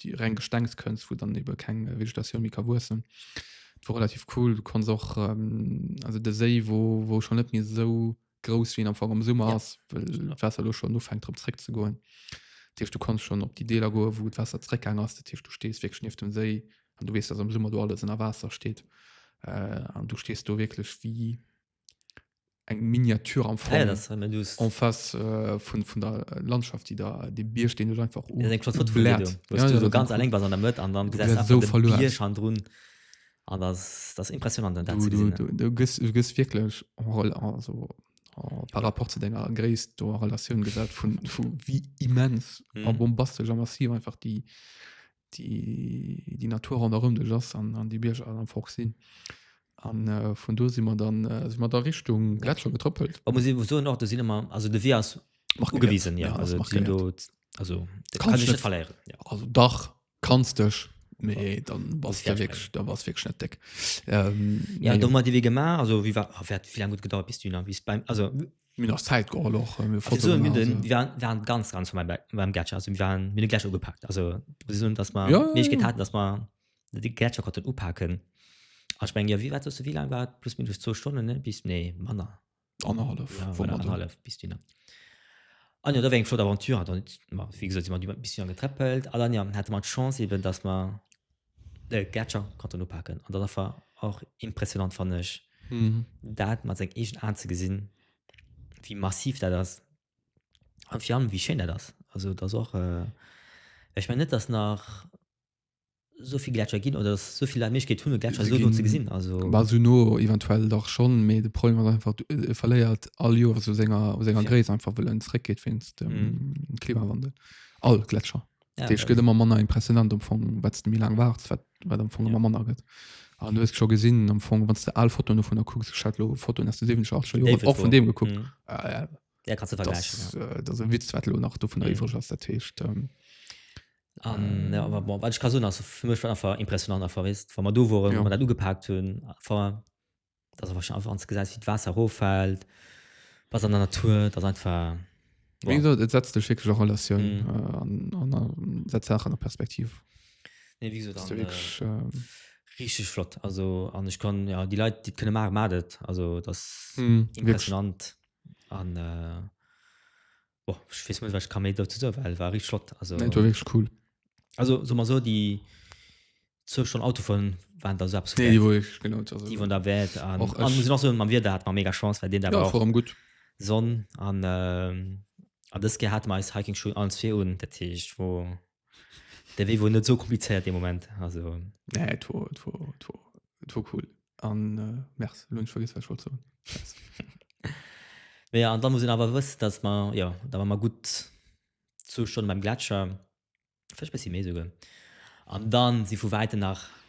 die reng Gestengskënst, wo dann eben keng äh, Vegetatioun méi ka wuessen. Dat war relativ cool. Du konns och ähm, also de Séi, wo, wo schon net méi so grouss wien am Fong am Summer Ja. ass, well Summer. d'Wasser lo schon ufängt drop zréck ze goen. Dat heescht, du konns schon op die Deeler goen, wou d'Wasser zréckgaang ass. Dat heescht, du stees wierklech nieft dem Séi an du weess, dass am Summer do alles ënner Waasser steet. Äh, an du stees do wierklech wéi eng Miniatur am Fall en face äh, vun vun der Landschaft die da de Bier stehen oder einfach um ja, Foto Blatt, Video, ja, ja, so ganz alleng was an der Mët an dann so verloren schon drun an das das impressionant dann du, du, du, du gehst, du gehst wirklich roll also oh, par rapport zu denger Grace du relation gesagt von, von wie immens mm. bombastisch massiv einfach die déi, déi Natur ronderëm dech ass an, an déi Bierger an am Fort sinn. An äh, vun do si mer dann äh, si mer da Richtung Gletscher getrëppelt. Wa muss iwwer soen och, do sinn ëmmer, also de Wee ass Mach ugewiesen, ja, ja, also mach sinn do, also de kann sech net verléieren. Ja. Also dach kanns dech méi dann bass der wég da bass wég net deck ähm, ja do mat iwwee gemaach also wie war wäert wie laang gut gedauert bis du nach bis beim also Mir nach Zeit geholl och äh, mir Also, Fotoen so, mir machen, den, so. wir waren, waren ganz, ganz von meinem, Be- von meinem Gletscher. Also, wir waren, mir den Gletscher ugepackt. Also, muss ich sagen, dass wir Ja, ja, Möglichkeit ja. hatten, dass wir den Gletscher konnten upacken. Aber ich meine, ja, wie war das, wie lang war das? Plus minus zwei Stunden, ne? Bis, nee, Manner. Anderhalf. Ja, wo oder man da- anderthalb bis dünner. Ah, ja, da war eine flotte Aventure. Dann, ma, wie gesagt, sind wir ein bisschen angetreffelt. Aber dann, ja, hatte man die Chance eben, dass wir De Gletscher konnt en upaken an dat ass war och impressionant fannen ech dat mat seng eegen Aan ze gesinn wéi massiv dat ass an fir allem wéi schéin dat ass. Also dat ass och ech mengen net dass nach esou vill Gletscher ginn oder dass esou vill Leit d'Méiglechkeet hunn e Gletscher esou no ze gesinn. Also Bah esou no eventuell dach schonn, mee de Problem ass einfach du e verléiert all Joer esou senger senger Gréisst einfach wëll en zréckgeet wéinst dem Klimawandel all Gletscher. Dat heescht, gëtt ëmmer manner impressionant am Fong, wat de méi laang waarts, wat wat am Fong ëmmer manner gëtt. An du hues scho gesinn am Fong, wann s de al Fotoen dovun der kucks, ech hat lo Fotoen aus de 70er, 80er Joren David och vun Foe. deem gekuckt. Mhm. Ah, ja, Ja, kannst du das, vergleichen. Ja. äh, das e Witz wat lo nach dovun Mhm. iwwereg ass dat heescht ähm, Um, ja, aber bon, wat ich kann soen, also für mich war einfach impressionant einfach wisst wann man du woren Ja. ja. man dat ugepaakt hunn einfach dass einfach einfach ans gesäis wie d'Waasser roffält was an der Natur das einfach wow. gesagt, et setzt dech wirklich a Relatioun mm. äh, an, an, an setzt Sachen an Perspektiv nee, wie gesagt, dann, wirklich, äh, ähm, richtig flott also an ich kann ja die Leute die können machen madet also das mm, impressionant an äh, boah, ich weiß nicht, was ich kann mehr dazu sagen, weil war richtig flott. Also, nee, war wirklich cool. Also, so mal so, die so schon Auto von waren da selbst. Nee, die wollte ich genau. Also, die von der Welt. Und, auch und muss noch so, man wird da hat man mega Chance, weil den da ja, war. Warum gut. Sonne an, ähm, an das gehabt man als Hiking Schuhe alles für und der Tisch, wo Der wéi wor net so komplizéiert de Moment. Also. Nee, et wor, et wor, et wor, et wor cool. An äh, Merc, lo hunn ech vergiss wat ech wollt soen. Mä ja, an da muss een awer wëssen, datt mer, jo, da war mer gutt zwou Stonne beim Gletscher, vläicht e bëssi méi esouguer, an da si vu wäiten nach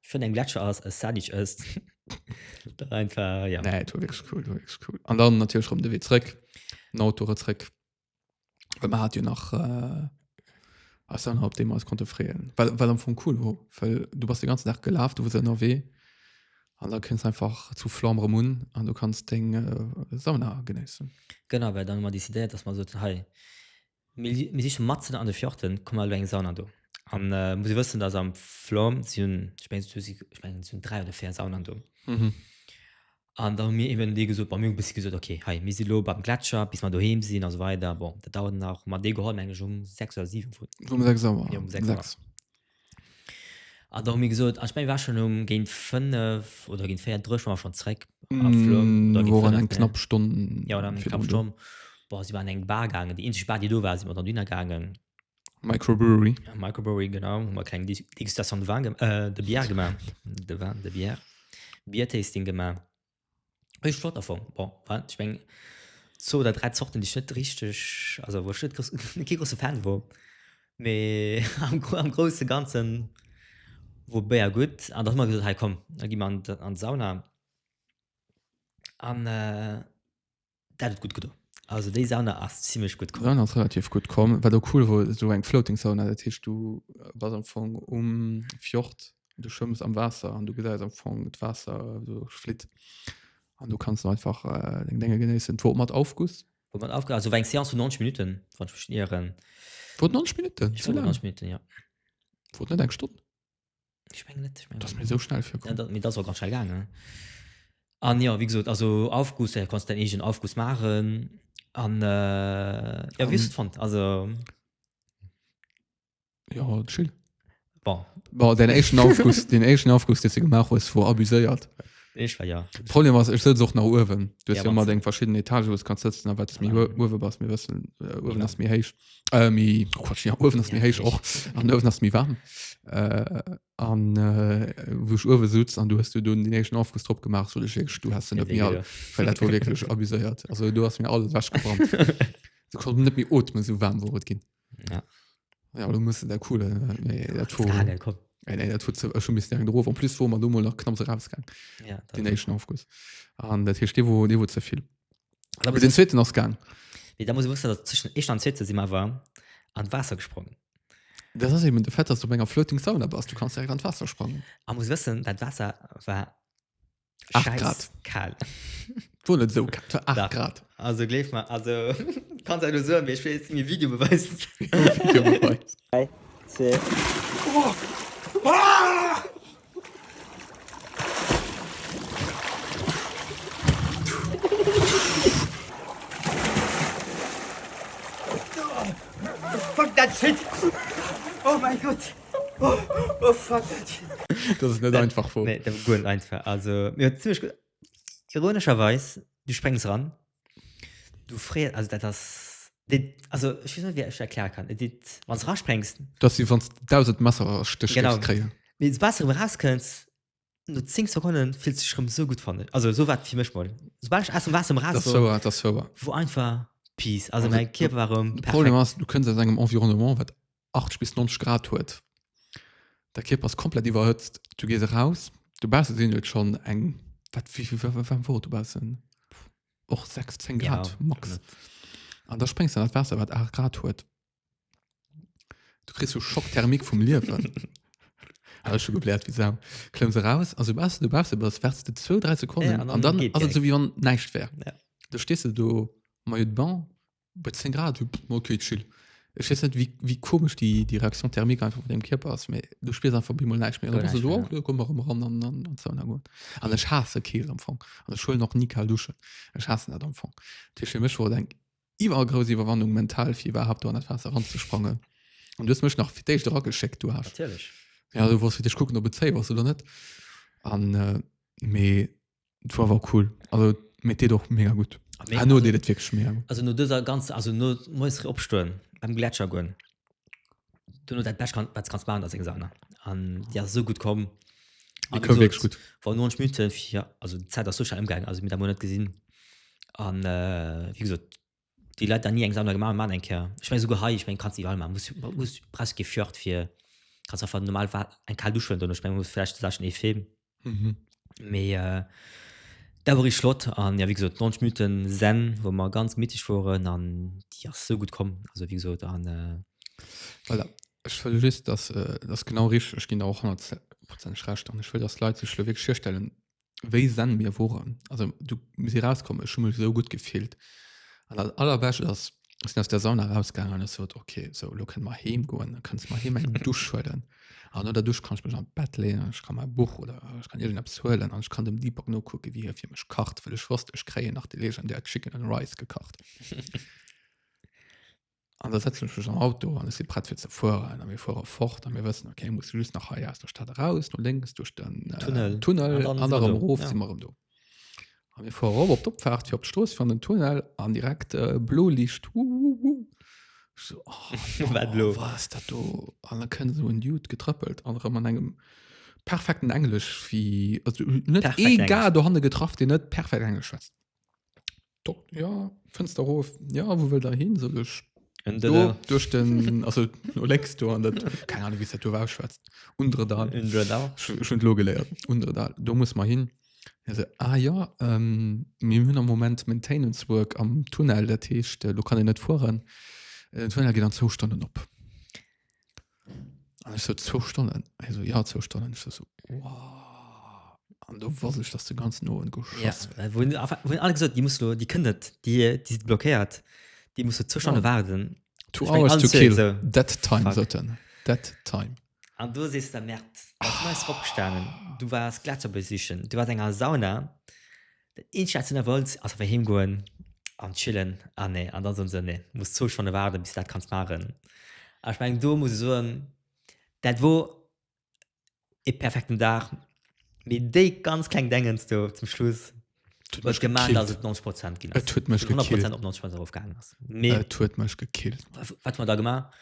Fënn eng Gletscher ass e Sadic ësst. Dat einfach, ja. Nee, war wirklich cool, war wirklich cool. An dann natürlich rum de Wee zréck, den Auto zréck. Well man hat jo nach äh, als dann op dem als konnte freeën. Well, well am Fong cool war, well du bist den ganzen Tag gelaf, du wars ënnerwee. An da kënns einfach zu Flandre Munn an du kannst deng äh, Sauna genéissen. Genau, well dann hu mer décidéiert, dass mer soten, hei, Mir siche matzen an de Fjorden, komm elo eng Sauna do. An muss ee wëssen dass am Flom si hunn, ech mengen do si, ech mengen si hunn 3 oder 4 Saunen do. An da hu mir eben deem gesot, bon mir hu bis gesot ok hei mir si elo beim Gletscher bis mer doheem sinn a sou weider, bon dat dauert nach, hu mer dee geholl meng ech um 6 oder 7 vun, um 6 Auer, jo um 6 Auer. An da hu mir gesot, ech meng, war schonn um géint fënnef oder géint véier Drëch war mer schonn zréck am Flum. Da géint fënnef, ne? Knapp Stonn. Jo, oder eng knapp Stonn. Boah, si waren an eng Bar gaangen, déi eenzeg Bar, déi do war, si mer dann dohinner gaangen. Microbrewery. Microbrewery, genau. Hu mer kleng Dégustation de Vin, de Bière gemaach. De Vin, de Bière. Beer-Tasting gemaach. Ech hu flott erfong. Bon, wat, ech meng, zwou oder dräi Zorten, déi ech net richteg, also wou ech net grouss, net kee grousse Fan wor. Mee am Gro, am grousse Ganze wor Béier gutt. An da hu mer gesot, hei komm, da gi mer an, an d'Sauna. An, Dat huet gutt gedo. Also déi Sauna ass zimmlech gutt komm. Sauna ass relativ gutt komm. Wat och cool wor, sou eng Floating Sauna, dat heescht du bass am Fong um Fjord, du schwëmms am Waasser an du gesäis am Fong d'Waasser sou flitt an du kanns einfach äh, deng Dénge genéissen. Et wor mat Aufguss. Wor mat Aufguss, also war eng Seance vun 90 Minutten, wann ech mech net ieren. Wor et 90 Minutten? Sou laang? 90 Minutten, ja. Wor et net eng Stonn? ich mein, net, ich mein, das mir so schnell für ja, dat, das war ganz schnell gegangen an ja wie gesagt also aufguss äh, kannst dein egen aufguss machen an äh, ja, um, fand also ja chill bon. Bon, den echten aufguss den echten aufguss den gemacht ist vor abuséiert ich war ja problem was ich auch nach oben du hast ja, ja immer den verschiedenen etage was kannst sitzen aber das mir ja. mir wissen äh, das mir hecht Äh, mi, oh Gott, ja, Uewen ass méi héich och. An Uewen ass méi warm. Äh, an äh, wo ich Uewen sutz an du hast du dun den éischten Aufguss drop gemacht, so ich wirklich, du hast den net méi all, weil dat war wirklich abuséiert. Also du hast mir alles weggebrannt. Du konnt net méi otmen, so warm wor et ginn. Ja. Ja, du musst der coole, nee, dat wor, Frage, komm. nee, nee, dat wor ze- schon bis lang drauf. En plus wor man du mal nach knapps rausgang, Ja, den dat- éischten Aufguss. An dat heescht, dee wor, dee wor ze vill. da muss den zweeten ass gang nee, da muss wusste dat zwischen echt an zweete si war an Wasser gesprongen das ass eben de fett dass du enger floating sauna bas du kannst an Wasser sprangen a muss wëssen dat Wasser war grad kal wo net sou grad also gleef mal also kann se so mir spe mir video beweis Dat ass net einfach vu. Nee, dat ass guer net einfach. Also, mir hunn zimmlech gutt. Ironescherweis, du spréngs ran, Du frees, also dat ass, dit, also ech weess net, wéi ech erkläre kann. Et dit, wann s rasprengst, Dat ass wéi wann s de 1000 Messerstéch Genau. géifs kréien. mee soubal s erëm rauskënns, no 10 Sekonne fills du dech erëm esou gutt, fannen ech. Also esou war et fir mech mol. Soubal ech aus dem Waasser erëm raus Dat ass war, wouer, dat ass wouer. wor einfach Peace. Also Also mäi de- Kierper war erëm De perfekt. Problem ass, du kënns aus engem Environnement, wat 80 bis 90 Grad huet. Der Kierper ass komplett iwwerhëtzt. Du gees eraus. Dobausse sinn et schonn eng, wat, wéi vill, wéi waarm wor et dobaussen? Och 6, 10 Grad ja, max. Net. An da spréngs du an dat Waasser, wat 8 Grad huet. Du kriss so Schockthermik vum Liewen. Hat schon geblärt wie Sau. Klemmst raus, also was du brauchst, aber das wärst du zwei, drei Sekunden ja, und dann, und dann also so wie wann nichts wäre. Ja. Da stehst du do, Maillot de Bain, Bei 10 Grad hupp, mol okay, chill. Ech weess net, wéi, wéi komesch déi, déi Reaction thermique einfach vun deem Kierper ass, mee du spiers einfach op eemol näischt méi. An da Guer bist du näischt so, méi, oh, da komm mer erëm eran an, an, an d'Sauna goen. An ech haasse Keelt am Fong. An ech huelen och ni kal Duschen. Ech haassen dat am Fong. Dat heescht, fir mech wor et eng iwwergrouss Iwwerwannung mental, fir iwwerhaapt do an dat Waasser eranzesprangen. An du hues mech nach fir d'éischt erageschéckt, du Hasch. Natierlech. Ja, du wollts fir d'éischt kucken, ob et safe ass oder net. An, mee Et war war cool also mit dir doch mega gut nee, ah, nur also, dir wirklich mega also nur dieser ganze also nur muss opstehen beim Gletscher gehen du nur dein Best kann was kannst machen das ist gesagt an ja so gut kommen ah, war wirklich gut war nur ein Schmüte ja also Zeit das so schnell im Gang also mit der Monat gesehen an äh, wie gesagt Déi Leit han ni eng Sauna gemaach, maan eng Kéier. Ech mengen souguer hei, ech mengen, kanns déi iwwerall maachen. Muss, muss presque kee Fjord fir, kanns einfach normal Wa, eng kaal Dusch huelen dono. Ech mengen, muss vläicht Saachen ee Film. Mee dat wor richteg flott. An jo, wéi gesot, 90 Minutten Zen, wou mer ganz mitteg woren, an déi ass sou gutt komm. Also, wéi gesot, an. Ech wëll just, dass, dat ass genau richteg, ech ginn der och honnertprozenteg Recht, an ech wëll, dass d'Leit sech elo wierklech virstellen, wéi sen mir woren also du muss sie rauskommen ech schummel so gut gefehlt an das allerbescht ass sind aus der sauna rausgegangen es wird okay so lo können mal heem goen dann kannst mal heem eng dusch schwden an oder dusch kann ich mich am bett lehnen ich kann mein buch oder ich kann irgend abswellen an ich kann dem deepak no gucken wie hier für mich kacht will ich wurst ich krähen nach die legen der chicken and rice gekacht An da setzen ech mech am Auto an ech si prett fir ze fueren a mir fuere fort a mir wëssen, okay, ech muss just nach hei aus der Stad eraus, no lénks duerch den äh, Tunnel. Tunnel An dann an si mer dann do. erof Ja. si mer erëm do. A mir fuere erop op d'Opfaart fir op d'Strooss fir an den Tunnel an direkt äh, blo Licht. Uh, uh, uh. Ich So, oh, Wat blo. blo. was dat do? An da kënnt esou en Dude getrëppelt an erëm an engem perfekten Englesch wéi also net Perfekt ee Gar Englesch. dohanne getraff, deen net perfekt Englesch schwätzt. Dok ja, Fënster erof. Ja, wou wëllt der hin? Soll ech En do Dëller. duerch den, also no lénks do an dat, keine Ahnung, wéi se dat do war, schwätzt. Undredal. En Dëller. Schon schon lo geléiert. Undredal. Do muss mer hin. Hie se, ah jo, ähm, mir hunn am Moment Maintenance Work am Tunnel, dat heescht, do kann een net fueren. Den Tunnel geet an zwou Stonnen op. An ich so, zwei Stunden. Ich so, ja, zwei Stunden. Ich so, so wow. Und du wusste ich, dass du ganz nur und geschossen ja, äh, wo, wo alle gesagt, die musst du, die können die, die sind blockiert. Die musst du zwei Stunden oh. warten. Two ich hours to kill. So, that time, so dann. That time. Und du siehst der März. Du bist oh. aufgestanden. Du warst Gletscher besichen. Du warst in einer Sauna. Den Eenzel hat se nerveus, ass awer heem goen an chillen an nee an dann soen se nee muss zwou Stonne waarden bis dat kanns maachen an ech mengen do muss ech soen dat wor ee perfekten Dag mee déi ganz kleng Dengens do zum Schluss huet gemaat dass et 90 Prozent ginn ass, 100 Prozent op 90 Prozent erof gaangen ass mee et huet mech gekillt wat hu mer da gemaach?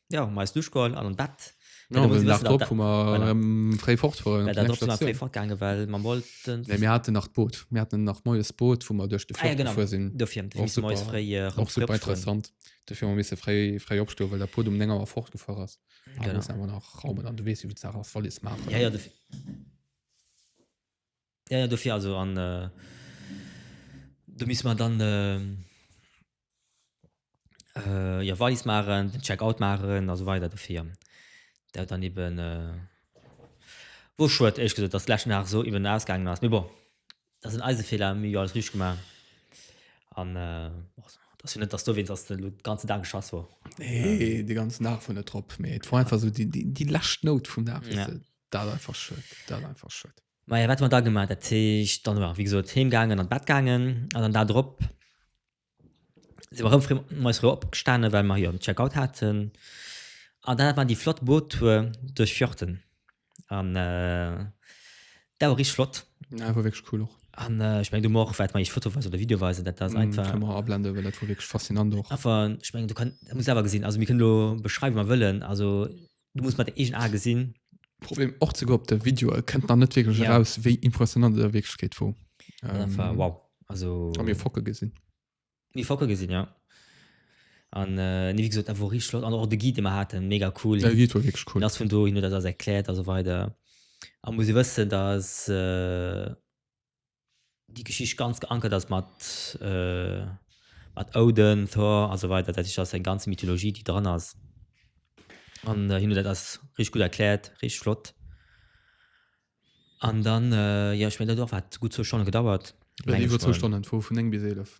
Ja, ma eis duschkoll an an Bett. No dem Dag drop hu mer erëm fréi fort wollen. Well dat drop si mer fréi fort gaange well mer wollten. Nee, mir haten nach d'Boot. Mir haten nach moies d'Boot, wou mer duerch de Fjord gefuer sinn. Ah ja, genau. Dofir hu mer moies fréi erëm fort. Och super interessant. Dofir hu mer misse fréi, fréi opstoen, well dat Boot um néng Auer fortgefuer ass. Genau. An do musse mer nach raumen an du weess, wéi gutt d'Saach ass, Wallis maachen. Ja, ja, dofir. Jo, jo, dofir also. An do misste mer dann jo Wallis maachen, den Checkout maachen a sou weider dofir. Dat dann eben wor schued, éierlech gesot, dass d'lescht Nacht esou eben ausgaangen ass. Mee bon, dat sinn eise Feeler, mir hu jo alles richteg gemaach. An et ass jo net, dass dowéinst ass, dass elo de ganzen Dag geschass wor. Nee, de ganzen Dag wor net drop, mee et wor einfach esou déi, déi lescht Nout vum Dag, weess de. Dat ass einfach schued, dat ass einfach schued. Maja, wat hu mer da gemaach? Dat heescht, dann hu mer, wéi gesot, heem gaangen, an d'Bett gaangen. An den Dag drop si mer erëm fréi moies fréi opgestanen, well mer jo den Checkout haten. An dann hat mer déi flott Boottour duerch Fjorden. An dat war richteg flott. Ja, war wierklech cool och. An ech mengen, do hu mer och, wat mer iech fotoweis oder videoweis, dat ass einfach. Kënne mer ablenden, well dat war wierklech faszinant och. Einfach, ech mengen, do kann, muss ee selwer gesinn. Also mir kënnen elo beschreiwen, wéi mer wëllen. Also du muss mat egen a gesinn Problem och ze go op de Video kënnt nach net wirklich ja. raus wéi impressionant der wirklich geht wo ähm, wow also mir focke gesinn mir focke gesinn ja an äh, wie gesagt, wo rich flott an och de Gide hat mega cool ja, cool das vun do hin dat erkläert also weiter a muss wëssen dass äh, déi Geschicht ganz geankert ass mat, mat Odin, Thor a sou weider, dat heescht, ass eng ganz Mythologie, déi dran ass. An hien huet dat alles richteg gutt erkläert, richteg flott. An dann, jo ech mengen dat huet och, wat, gutt zwou Stonne gedauert, meng ech mol. Iwwer zwou Stonnen, vu vun néng bis eelef.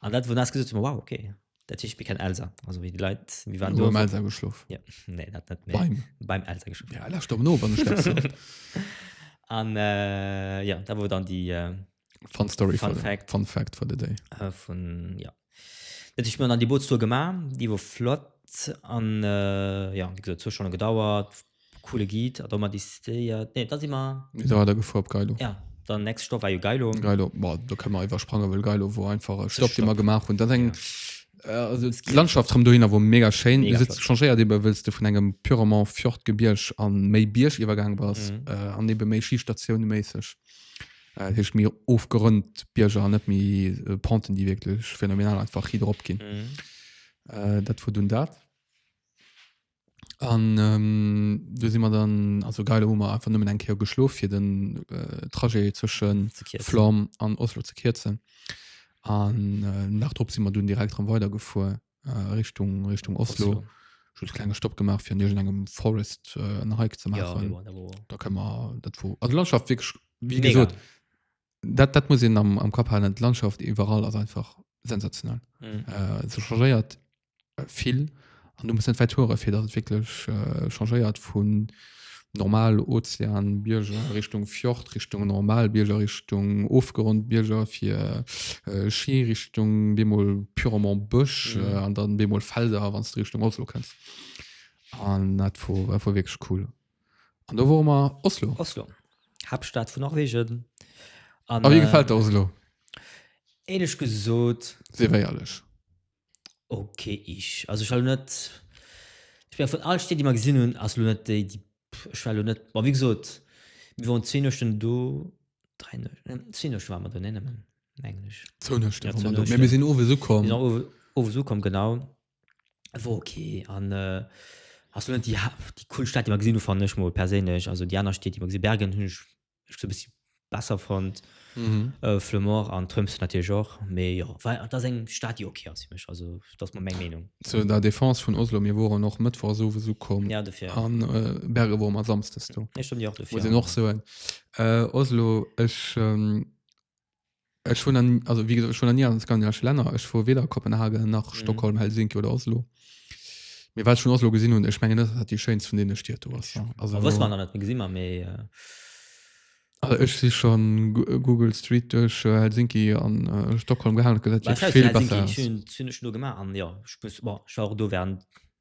An dat wou nass gesot wow ok dat heescht mir kennen Elsa also wéi déi Leit mir waren do Elsa geschlof ja nee dat net méi beim beim Elsa geschlof ja lass stop no wann du das an äh, ja da wou dann die äh, fun story fun fact fun fact for the day äh, vun ja dat heescht mir dann die Bootstour gemacht die wou flott an äh, ja wie gesagt zu schon gedauert Coole Guide a domat decidéiert, nee da si mer. Mir si weider gefuer op Geilo. Ja, dann next Stopp war jo Geilo. Geilo, bon do kënne mer iwwersprangen, well Geilo wor einfach e Stopp dee mer gemaach hunn. Dat ass eng, also d'Landschaft rëm dohinner wor mega schéin. Mega flott. Changéiert ebe wëlls de vun engem purement Fjordgebierg a méi Bierg iwwergaange bass an ebe méi Schistatiounenméisseg, dat heescht méi ofgerënnt Bierger an net méi Penten déi wierklech phänomenal einfach ridder op ginn. Dat wor dunn dat. an ähm, du si mer dann also geil hu mer einfach nëmmen eng Keer geschlof fir den äh, Trajet zwëschen Flam an Oslo ze kierzen an äh, nach drop si mer dun direkt ran weiter gefuer äh, Richtung Richtung Oslo, Oslo just kleine Stopp gemacht fir nirgent engem Forest äh, en Hike ze machen ja, da kann man dat wo also Landschaft wirklich wie Mega. gesagt dat dat muss in am, am Kap halen Landschaft überall also einfach sensationell mhm. äh, so changeiert vill an du muss net weit fuere fir dat wirklich äh, changeiert vun normal Ozean Bierger Richtung Fjord Richtung normal Bierger Richtung ofgerond Bierger fir äh, Ski Richtung bemol purement Bësch mhm. äh, an dann bemol Felder wann du Richtung Oslo kannst an dat vu vu wirklich cool an da wo immer Oslo Oslo Hauptstadt vu Norwegen an, wie äh, gefällt Oslo Ähnlich gesot. Sehr ehrlich. Ok ich also ech war lo net ech war vun all Stied déi mer gesinn hunn ass lo net déi déi ech war lo net bon wéi gesot mir waren zwee Nuechten do dräi Nuechten ne zwee Nuechten ware mer do nee nëmmen mengen ech Zwou Nuechten jo waren zwou mer do mee mir Nuechten sinn owes mir ukomm. sinn owe owes ukomm genau e wor ok an ass lo net déi ha déi cool Stad déi mer gesinn hu fannen ech mol perséinlech also déi aner Stied déi mer gesi Bergen hunn ech ech e bëssi besser fonnt. Mhm. Äh, Flemore an Trëms natierlech och, mee jo, well dat ass eng Stad, déi okay ass fir mech. Also dat ass mer meng Meenung. Zu der Defense vun Oslo, mir woren och mëttwochs owes ukomm Ja, dofir. an äh, Berge wor mer samsdes do. Nee, stimmt, jo, dofir. muss een och soen. Äh, Oslo, ech ähm, Ech hun an, also wie gesot, ech hun an nie an skandinavesche Länner. Ech wor weder a Kopenhagen nach mhm. Stockholm, Helsinki oder Oslo. Mir wat schon Oslo gesinn hun, ech mengen net dat die schönst vun denen Stied do ass. Also wëss man net gesinn man méi. Äh also ech si schon Google Street duerch äh, Helsinki an äh, Stockholm gehandelt, dat jo vill besser. Helsinki hun hun ech nur gemacht an ja, ich muss, boah, ich war auch do während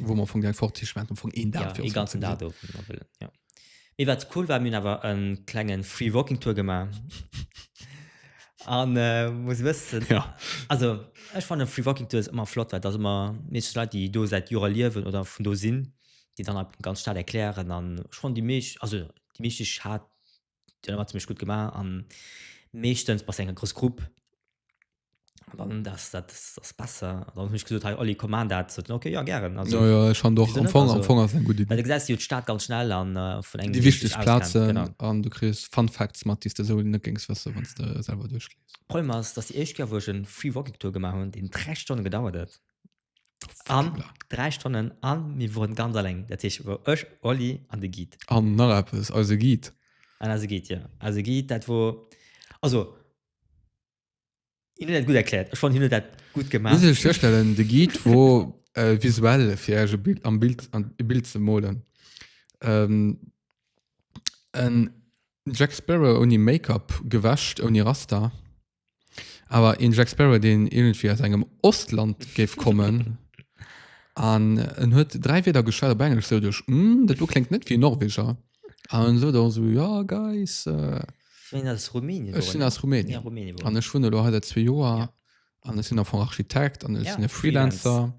wo man von fort ganzen ja. wat cool war mir aber en klengen free walking tour gemacht an äh, muss wissen ja also ich fand den free walking tour ist immer flott weil das immer nicht leid die do seit jura liewen oder von do sinn die dann ab ganz staat erklären an schon die milch also die milch hat Déi hunn ëmmer zimmlech gutt gemaach a meeschtens bei enger grouss Grupp dann das dat ass besser dann hunn ech gesot hei Olli komm aan dat so okay ja gären also ja, ja, schon doch am Fong, am Fong ass eng gutt Idee. Well du gesäis jo d'Stad ganz schnell an äh, vun engem déi wichteg Plazen an du kriss Fun Facts mat déi de sou net géngs wësse wann de selwer duerchlees. Problem ass dass déi éischt Kéier wou ech en Free Walking Tour gemaach hunn deen 3 Stonne gedauert huet An Voilà. dräi Stonnen a mir woren ganz alleng. Dat heescht, wor ech, Oli an de Guide. An nach eppes, eise Guide. An eise Guide, jo. Eise Guide, dat wor, also, hien huet dat gutt erkläert. Ech fannen, hien huet dat gutt gemaach. Muss een sech virstellen, de Guide wor äh, visuell fir iech e Bild, am Bild, an e Bild ze molen. Ähm, en Jack Sparrow ouni Make-up, gewäscht, ouni Rasta. Awer een Jack Sparrow deen iergendwéi aus engem Ostland géif kommen. An en huet 3 Wierder geschwat op Englesch sou duerch mm, dat do kléngt net wéi e Norweger. An en sot och sou ja guys, äh, Ich mein, aus Rumänien. ech sinn aus Rumänien. Ja, Rumänien. An ech wunnen elo hei säit zwee Joer Ja. an ech sinn am Fong Architekt an ech Ja, sinn e Freelancer.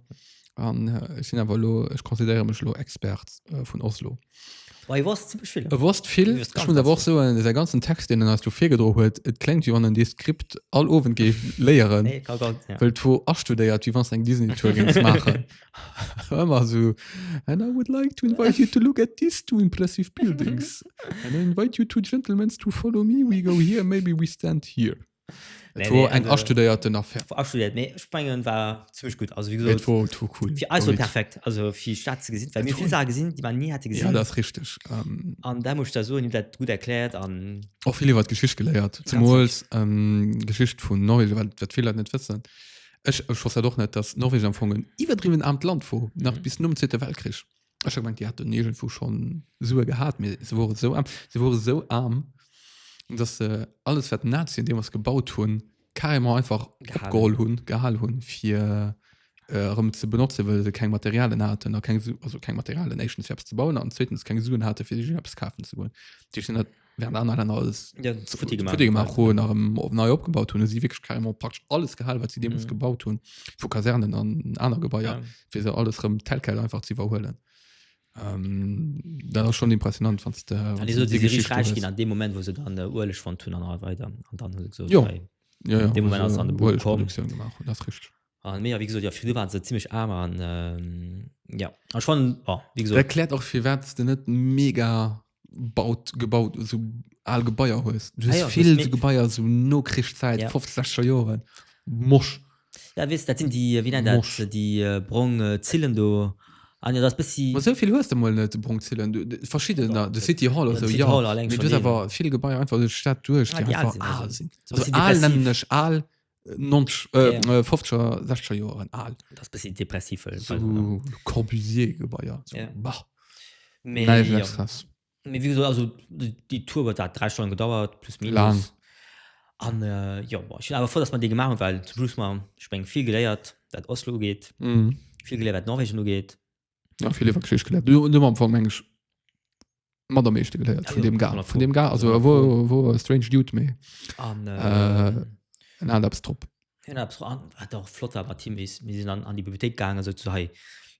an äh, ech sinn awer lo ech consideréiere mech lo Expert äh, vun Oslo. Bei was ziemlich viel. E wosst vill Du wirst ganz, schon awer och ganz so en ganzen Text den als du virgedro huet et klengt wie wann en dee Skript all Owend géif léieren Nee, kann gar nicht. Ja. wëll wo astudéiert wie wann eng Disney Tour gings machen ëmmer so and I would like to invite you to look at these two impressive buildings and I invite you two gentlemen to follow me we go here maybe we stand here Et wor eng astudéierten Affaire. Wor astudiert, mee ech mengen war zimmlech gutt. Also wéi gesot. Et wor trop cool. Fir eis wor et perfekt, also fir déi Stad ze gesinn, well mir vill Saache gesinn, déi mer ni hätte gesinn. Ja, dat ass richteg. An dat muss ech der soen, dir hutt dat gutt erkläert an. Och vill iwwert d'Geschicht geléiert, zemools d'Geschicht vun Norwegen, well wat vill Leit net wëssen, ech wosst dat och net, datt Norwegen am Fong en iwwerdriwwen aarmt Land wor, nach bis nom Zweete Weltkrich. Ech hat gemengt die hat den Negel vu schon Sue gehabt mir se wore so arm se wore so arm dass se alles wat Nazien dem was gebaut hunn carrément einfach Gehal. opgeholl hunn gehal hunn fir äh, erëm ze benotzen well se keng Materialien haten a keng Su also keng Materialien éischtens fir eppes ze bauen an zweetens keng Suen hate fir sech eppes kafen ze goen Dich sinn dat während aner Länder alles Ja, zu futti gemacht. futti gemacht hun nach op nei opgebaut hun sie wirklich carrément praktisch alles gehall wat sie deems Mhm. gebaut hun vu Kasernen an aner Gebäier Ja. fir se alles rem Telkel einfach ze iwwerhuelen ähm, dat ass schon impressionant wann An die so diese Geschichte Reich gin an dem Moment wo se dann äh, Ueleg von tun an all weiter an dann hu se gesagt, Jo. hey, ja, ja, dem Moment also, ass an de Buch Uelproduktion gemacht hun, das ist richtig An Media, wéi gesot, jo, fir du waren se zimlech aarm an jo, an ech fannen, jo, wéi gesot. Erkläert och firwats de net mega baut, gebaut, esou al Gebaier hues. Du hues vill esou Gebaier, esou Nokrichszäit, fofzeg, sechzeger Joren, mosch. Ja, weess, dat sinn déi, wéi nennt dat, déi brong Zillen do. An jo, dat ass bëssi. Ma esou vill hues de mol net, brong Zillen, verschiddener, de City Hall oder esou, jo. De City Hall alleng schonn. Mee du hues awer vill Gebaier einfach duerch d'Stad duerch, déi einfach al sinn. Esou al nennen ech al, 90, äh, Ja. äh, 50er, 60er Joren al. Das bisschen depressiv. äh, So ne? Corbusier-Gebäier. So. Ja. Bah, Mee, neige ja. Extras. Mee wie gesagt, also die die Tour huet dat 3 Stonnen gedauert plus minus. Lang. An äh, jo boah, ich bin awer froh, dass man dee gemacht hun, well zum Schluss man ich meng vill geléiert, dat Oslo ugeet, Mhm. vill geléiert, wat Norwegen ugeet. Ja, vill iwwer Geschicht geléiert. Du, du am Fall meng ich mat am meeschte geléiert vun Ja, dem Gar. 100 Vun dem Gar, also 100 wo, wo Strange Dude méi. An, Äh, äh, en hat eppes drop. hin hab's an, wat auch flott war, war Team, wie s- mir sinn an, an déi Bibliothék gaangen, sot se, hei,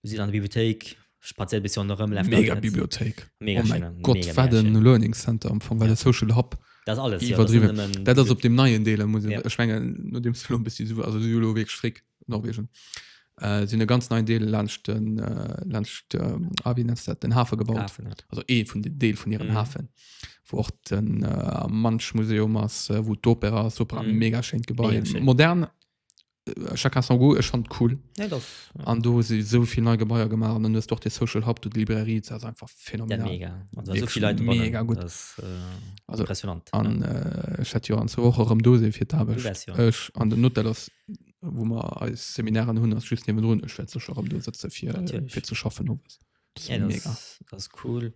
du sidd an der Bibliothék, spazier bis an der Rëm, läuft Mega net. Bibliothéik. Mega oh schön, mein Gott, mega, wat mega en schön. Learning Center am Fong, wat Ja. e Social Hub. Das alles, ja, das iwwerdriwwen. sind nëmmen- Dat ass op dem neien Deel, da muss Ja. ech mengen, nodeems du lo e bëssi su, also du lo wierklech fréck. Norwegen äh, sinn e ganz neien Deel laanscht den, äh, laanscht, ähm, ah, wie nenns dat, den Hafe gebaut. Hafen, ja. Also ee vun den Deel vun hiren Mhm. Hafen, wou och den äh, Mansch Museum ass, äh, wou d'Opera ass, Opera, Mhm. mega schéint Gebai, Mega schéin. modern, äh, chacun son goût, ech fand cool. Nee, dat ass- ja. An do si sou vill nei Gebaier gemaach an dann hues du och de Social Hub, du die Librairie, das ass einfach Ja, phänomenal. mega. Also, so Wirklich viel Leute drinnen. mega gut. Das ist, äh, Also, impressionant. An äh, ech hätt jo an zwou Woche rëm do sinn fir d'Aarbecht. Du wärst jo. Ech an den Hotel ass wo man als Seminaren hun as just ne run sitze fir zu schaffen no ja, das, das cool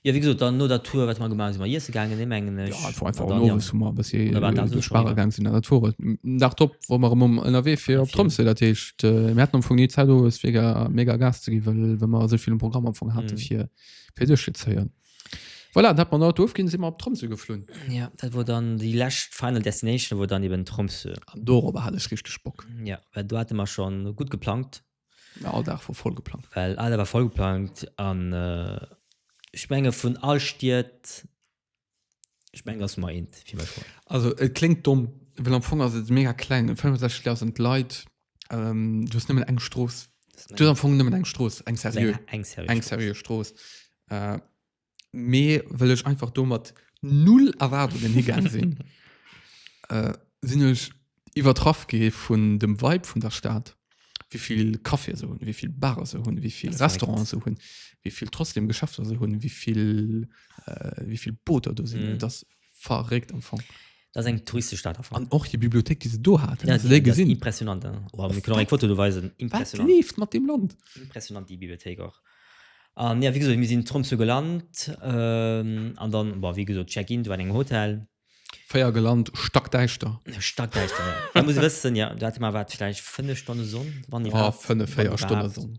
ja wie gesagt, dann no der Tour wat man gemacht man yes gegangen ne mengen ja, einfach, einfach dann, ja. so bis äh, sparegang sind der Tour nach top wo man um NRW fir op Tromse dat hecht äh, Mä am vu nie Zeit mega mega Gas ze gi well wenn man so viel Programm am Anfang hatte mhm. fir fir duch ze zeieren Voilà, dat man Auto ofginn, si mer op Tromsø geflunn. Ja, dat wor dann déi lescht final destination wor dann eben Tromsø. An dorober hat ech richteg Bock. Ja, well do hate mer schon gutt geplangt. Ja, all Dag wor voll geplangt. Well all Dag war voll geplangt an ech menge vun all Stied, ech meng ass Nummer eent fir mech. Also et kléngt domm, well am Fong ass et e mega klengen, 65 Leit ass en d'Leit. ähm, du hast nëmmen eng Stroos du hast am Fong nëmmen eng Stroos eng seriö eng seriö eng seriö Stroos äh, mee well ech einfach do mat null Erwartungen higang sinn äh, sinn ech iwwertraff gi vun dem Weib vun der Staat wie viel Kaffee se hunn wie viel Bare se hunn wie viel Das Restaurant merkt. se hunn wie viel trotzdem Geschäfter se hunn wie viel äh, wie viel Booter do sinn Mhm. das verréckt am Fong. Dat ass eng touristesch Stad am Fong. An och hir Bibliothék, déi se do haten, Ja, as du déi déi ass gesinn? impressionant. ja. Oh, mir kënnen och eng Foto do weisen. Wat Impressionant. leeft mat deem Land? impressionant déi Bibliothéik och. An jo, wéi gesot, mir sinn zu Tromsø gelant ähm, an dann, bon, wéi gesot, Check-in, du war an engem Hotel. Véier gelant, stackdäischter. Stackdäischter, ja. Da muss e wëssen, ja, do hate mer, wat, vläicht fënnef Stonne Sonn, wann Oh, iwwerhaapt. fënnef, Wann véier Stonne iwwerhaapt. Sonn.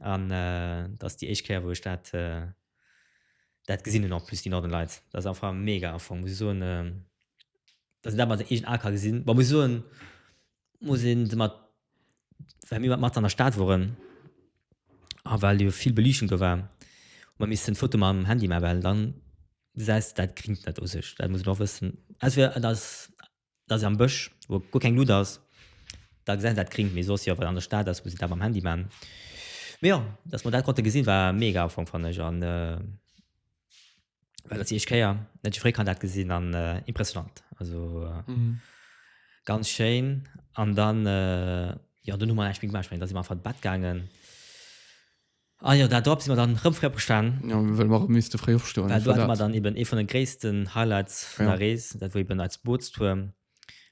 An dat ass déi éischt Kéier, wou ech dat, dat gesinn hunn, en plus déi Northern Lights. Dat ass einfach mega am Fong, muss ech soen, dass een dat mat den eegenen Ae ka gesinn. Bon, muss ech soen, muss een se mat, well mir mat an der Stad woren a well jo vill Beliichtung do war, hu mer missen d'Foto mam Handy maachen, well dann gesäis de dat Grinnt net u sech. Dat muss een och wëssen. Entweder et ass dass se am Bësch, wou guer keng Luut ass, da gesäit een dat gringt, mee soss jo, wat an der Stad ass, muss een dat mam Handy man. Mee jo, dass mer dat konnte gesinn, war mega am Fong, fannen ech, an well dat déi éischt Kéier, net déi fréi kann dat gesinn, an impressionnant, also ganz schéin. An dann, jo, dunn hu mer eng Spillung gemaach, ech mengen, da si mer einfach an d'Bett gaangen. Ah jo, dat drop si mer dann rëm fréi opgestan. Jo, well mer rëm misste fréi opstoen. Well do hate mer dann eben ee vun de gréissten Highlights vun der Rees, dat wor eben eis Bootstour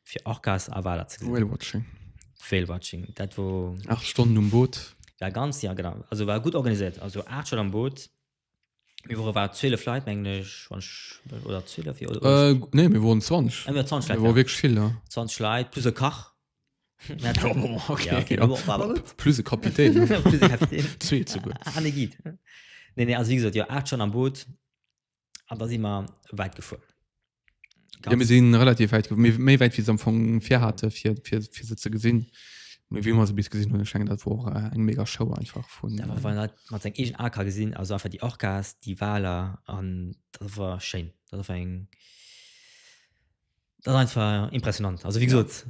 fir Orcas a Waler ze gesinn. Whale Watching. Whale Watching, dat wor. Aacht Stonnen um Boot. Ja, ganz, ja genau. Also war gutt organiséiert. Also aacht Stonnen am Boot. Mir wore war 12 Leit, mengen ech, wann ech, oder 12 jo. Nee, mir woren 20. Ah, mir waren 20 Leit. Mir wore wierklech vill, ja. 20 Leit plus e Kach. plus e Kapitän zwee ze gutt ah, nee, gitt. Nee, nee, also wie gesagt, jo acht schon am Boot an da si mer wäit gefuer. Ja, mir sinn relativ wäit méi méi wäit wie se am Fong fir hate fir fir fir se ze gesinn. Mee wie mer se bis gesinn hunn, schengen dat wor äh, eng mega Show einfach vun Da war dat mat seg egen AK gesinn, also einfach die Orcas, die Waler an dat war schéin. Dat war eng Dat einfach impressionant also wie gesot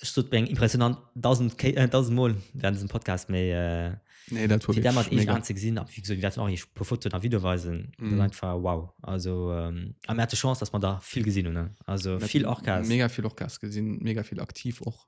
ech sot eng impressionant 1000 Ke- äh, 1000 Mol während diesem Podcast méi äh, Nee, dat war fir damals wirklich mega. ze gesinn ab wie gesot werden och pu Foto a Video weisen mm. Mhm. einfach wow also ähm, a Mä de Chance dass man da viel gesinn hun ne? also Net- viel Orcas Mega vill och Gas gesinn, mega vill aktiv och.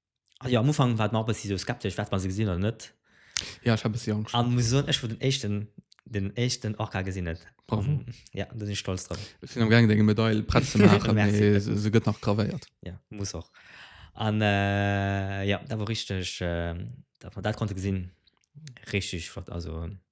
Also ja, am Ufang war et mer och e bëssi esou skeptesch, Wäerte mer se gesinn oder net? Ja, ech hat e bëssi Angscht. A muss soen, ech wor den éischten, den éischten Orca gesinn huet. Bravo. An ja, do sinn ech stolz drop. Ech sinn am gaangen, deng Medail prett ze maachen, mee Merci. se gëtt nach gravéiert. Ja, muss och. An ja, dat wor richteg, datt mer dat konnte gesinn, richteg flott. Also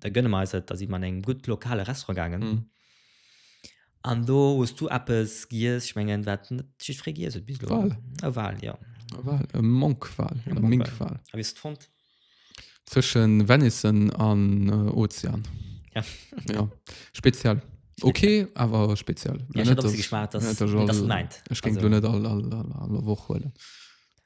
da gönne mer eis et, da sin mer an engem gudd lokale Restaurant gaangen, an do hues du eppes giess, ech mengen waat de net jiddferee giess huet bis elo, Wal. e Wal, jo. E Wal, e Monkwal oder Minkwal. A wéi hues de et fonnt? Zwëschen Venison an Ozean. Ja. Ja, speziell. Ok, awer speziell. Ja, ech hat och bis geschmacht, dass, dass et mäint. Ech géing lo net all Woch huelen.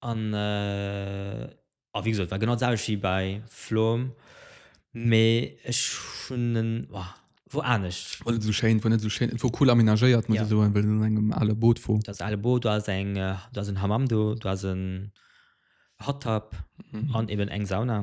An a wéi gesot war genau d'selwecht wéi bei Flom, mee ech hunn en, oh, wor anescht. Wor net esou schéin, wor net esou schéin, et wor cool amenagéiert muss ech soen, well et an engem ale Boot wor. Et ass e ale Boot, do ass eng, do ass en Hammam do, do ass en Hot Tub an eben eng Sauna.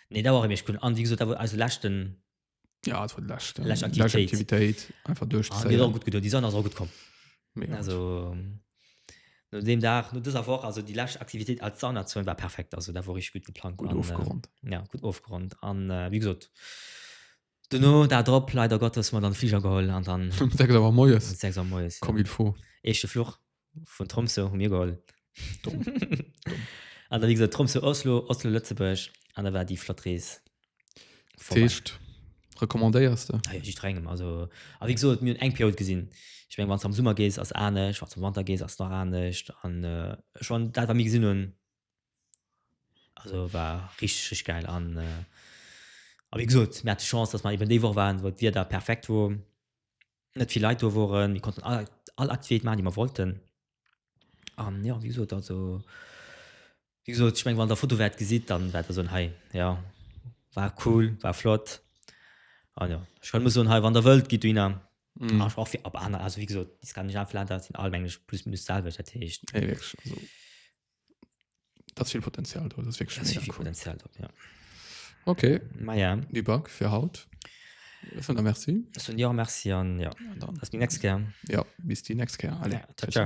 Nee, da war rem ech cool. An wéi gesot, da war eise leschten Ja, et war déi lescht, äh, lescht lescht Aktivitéit. Aktivitéit. Einfach an déi ass och duerchzéien. gutt gedoen. Déi Sonn ass och gutt komm. Mega gut. Also no deem Dag, no dëser Woch, also déi lescht Aktivitéit als Saunazone war perfekt. Also dat war richteg gutt geplangt Gutt an, äh, ofgeronnt. ja, gutt ofgeronnt. An, äh, wéi gesot, Duerno Dag drop leider Gottes mer dann Fliger geholl an dann Um 6 Auer moies, um 6 Auer moies comme il faut. Eischte Fluch vun Tromsø hu mir geholl. Domm, domm. An da wéi gesot Tromsø, Oslo, Oslo, Lëtzebuerg an da war déi flott Rees vorbei. D'Heescht recommandéiers de? Ah jo, jiddrengem. Also, a wéi gesot mir hunn eng Period gesinn. Ech meng wann s de am Summer gees ass anescht, wann s de am Wanter gees ass nach anescht an ech wann dat wat mir gesinn hunn, Also war richtig geil an äh, wie gesagt, mir hatten Chance, dass wir eben die Woche waren, wo das Wetter perfekt war, nicht viele Leute da waren, wir konnten alle, alle Aktivitäten machen, die wir wollten. Und ja, wie gesagt, also, wie gesagt, ich meine, wenn ihr Foto werdet gesehen, dann werdet ihr sagen, hey, ja, war cool, war flott. Und ja, ich kann nur sagen, hey, wenn ihr wollt, geht hin. Mhm. Auch für, aber andere, also wie gesagt, die skandinavischen Länder sind alle eigentlich plus minus selber, das heißt. Hey, wirklich, also. Das viel Potenzial drin, das ist wirklich das viel cool. Potenzial drin, ja. Okay. Maja. Die Bank für Haut. Merci. Merci an ja. Dann. Bis die nächste Kehr. Ja, bis die nächste Kehr. Alle. Ja, ciao. ciao.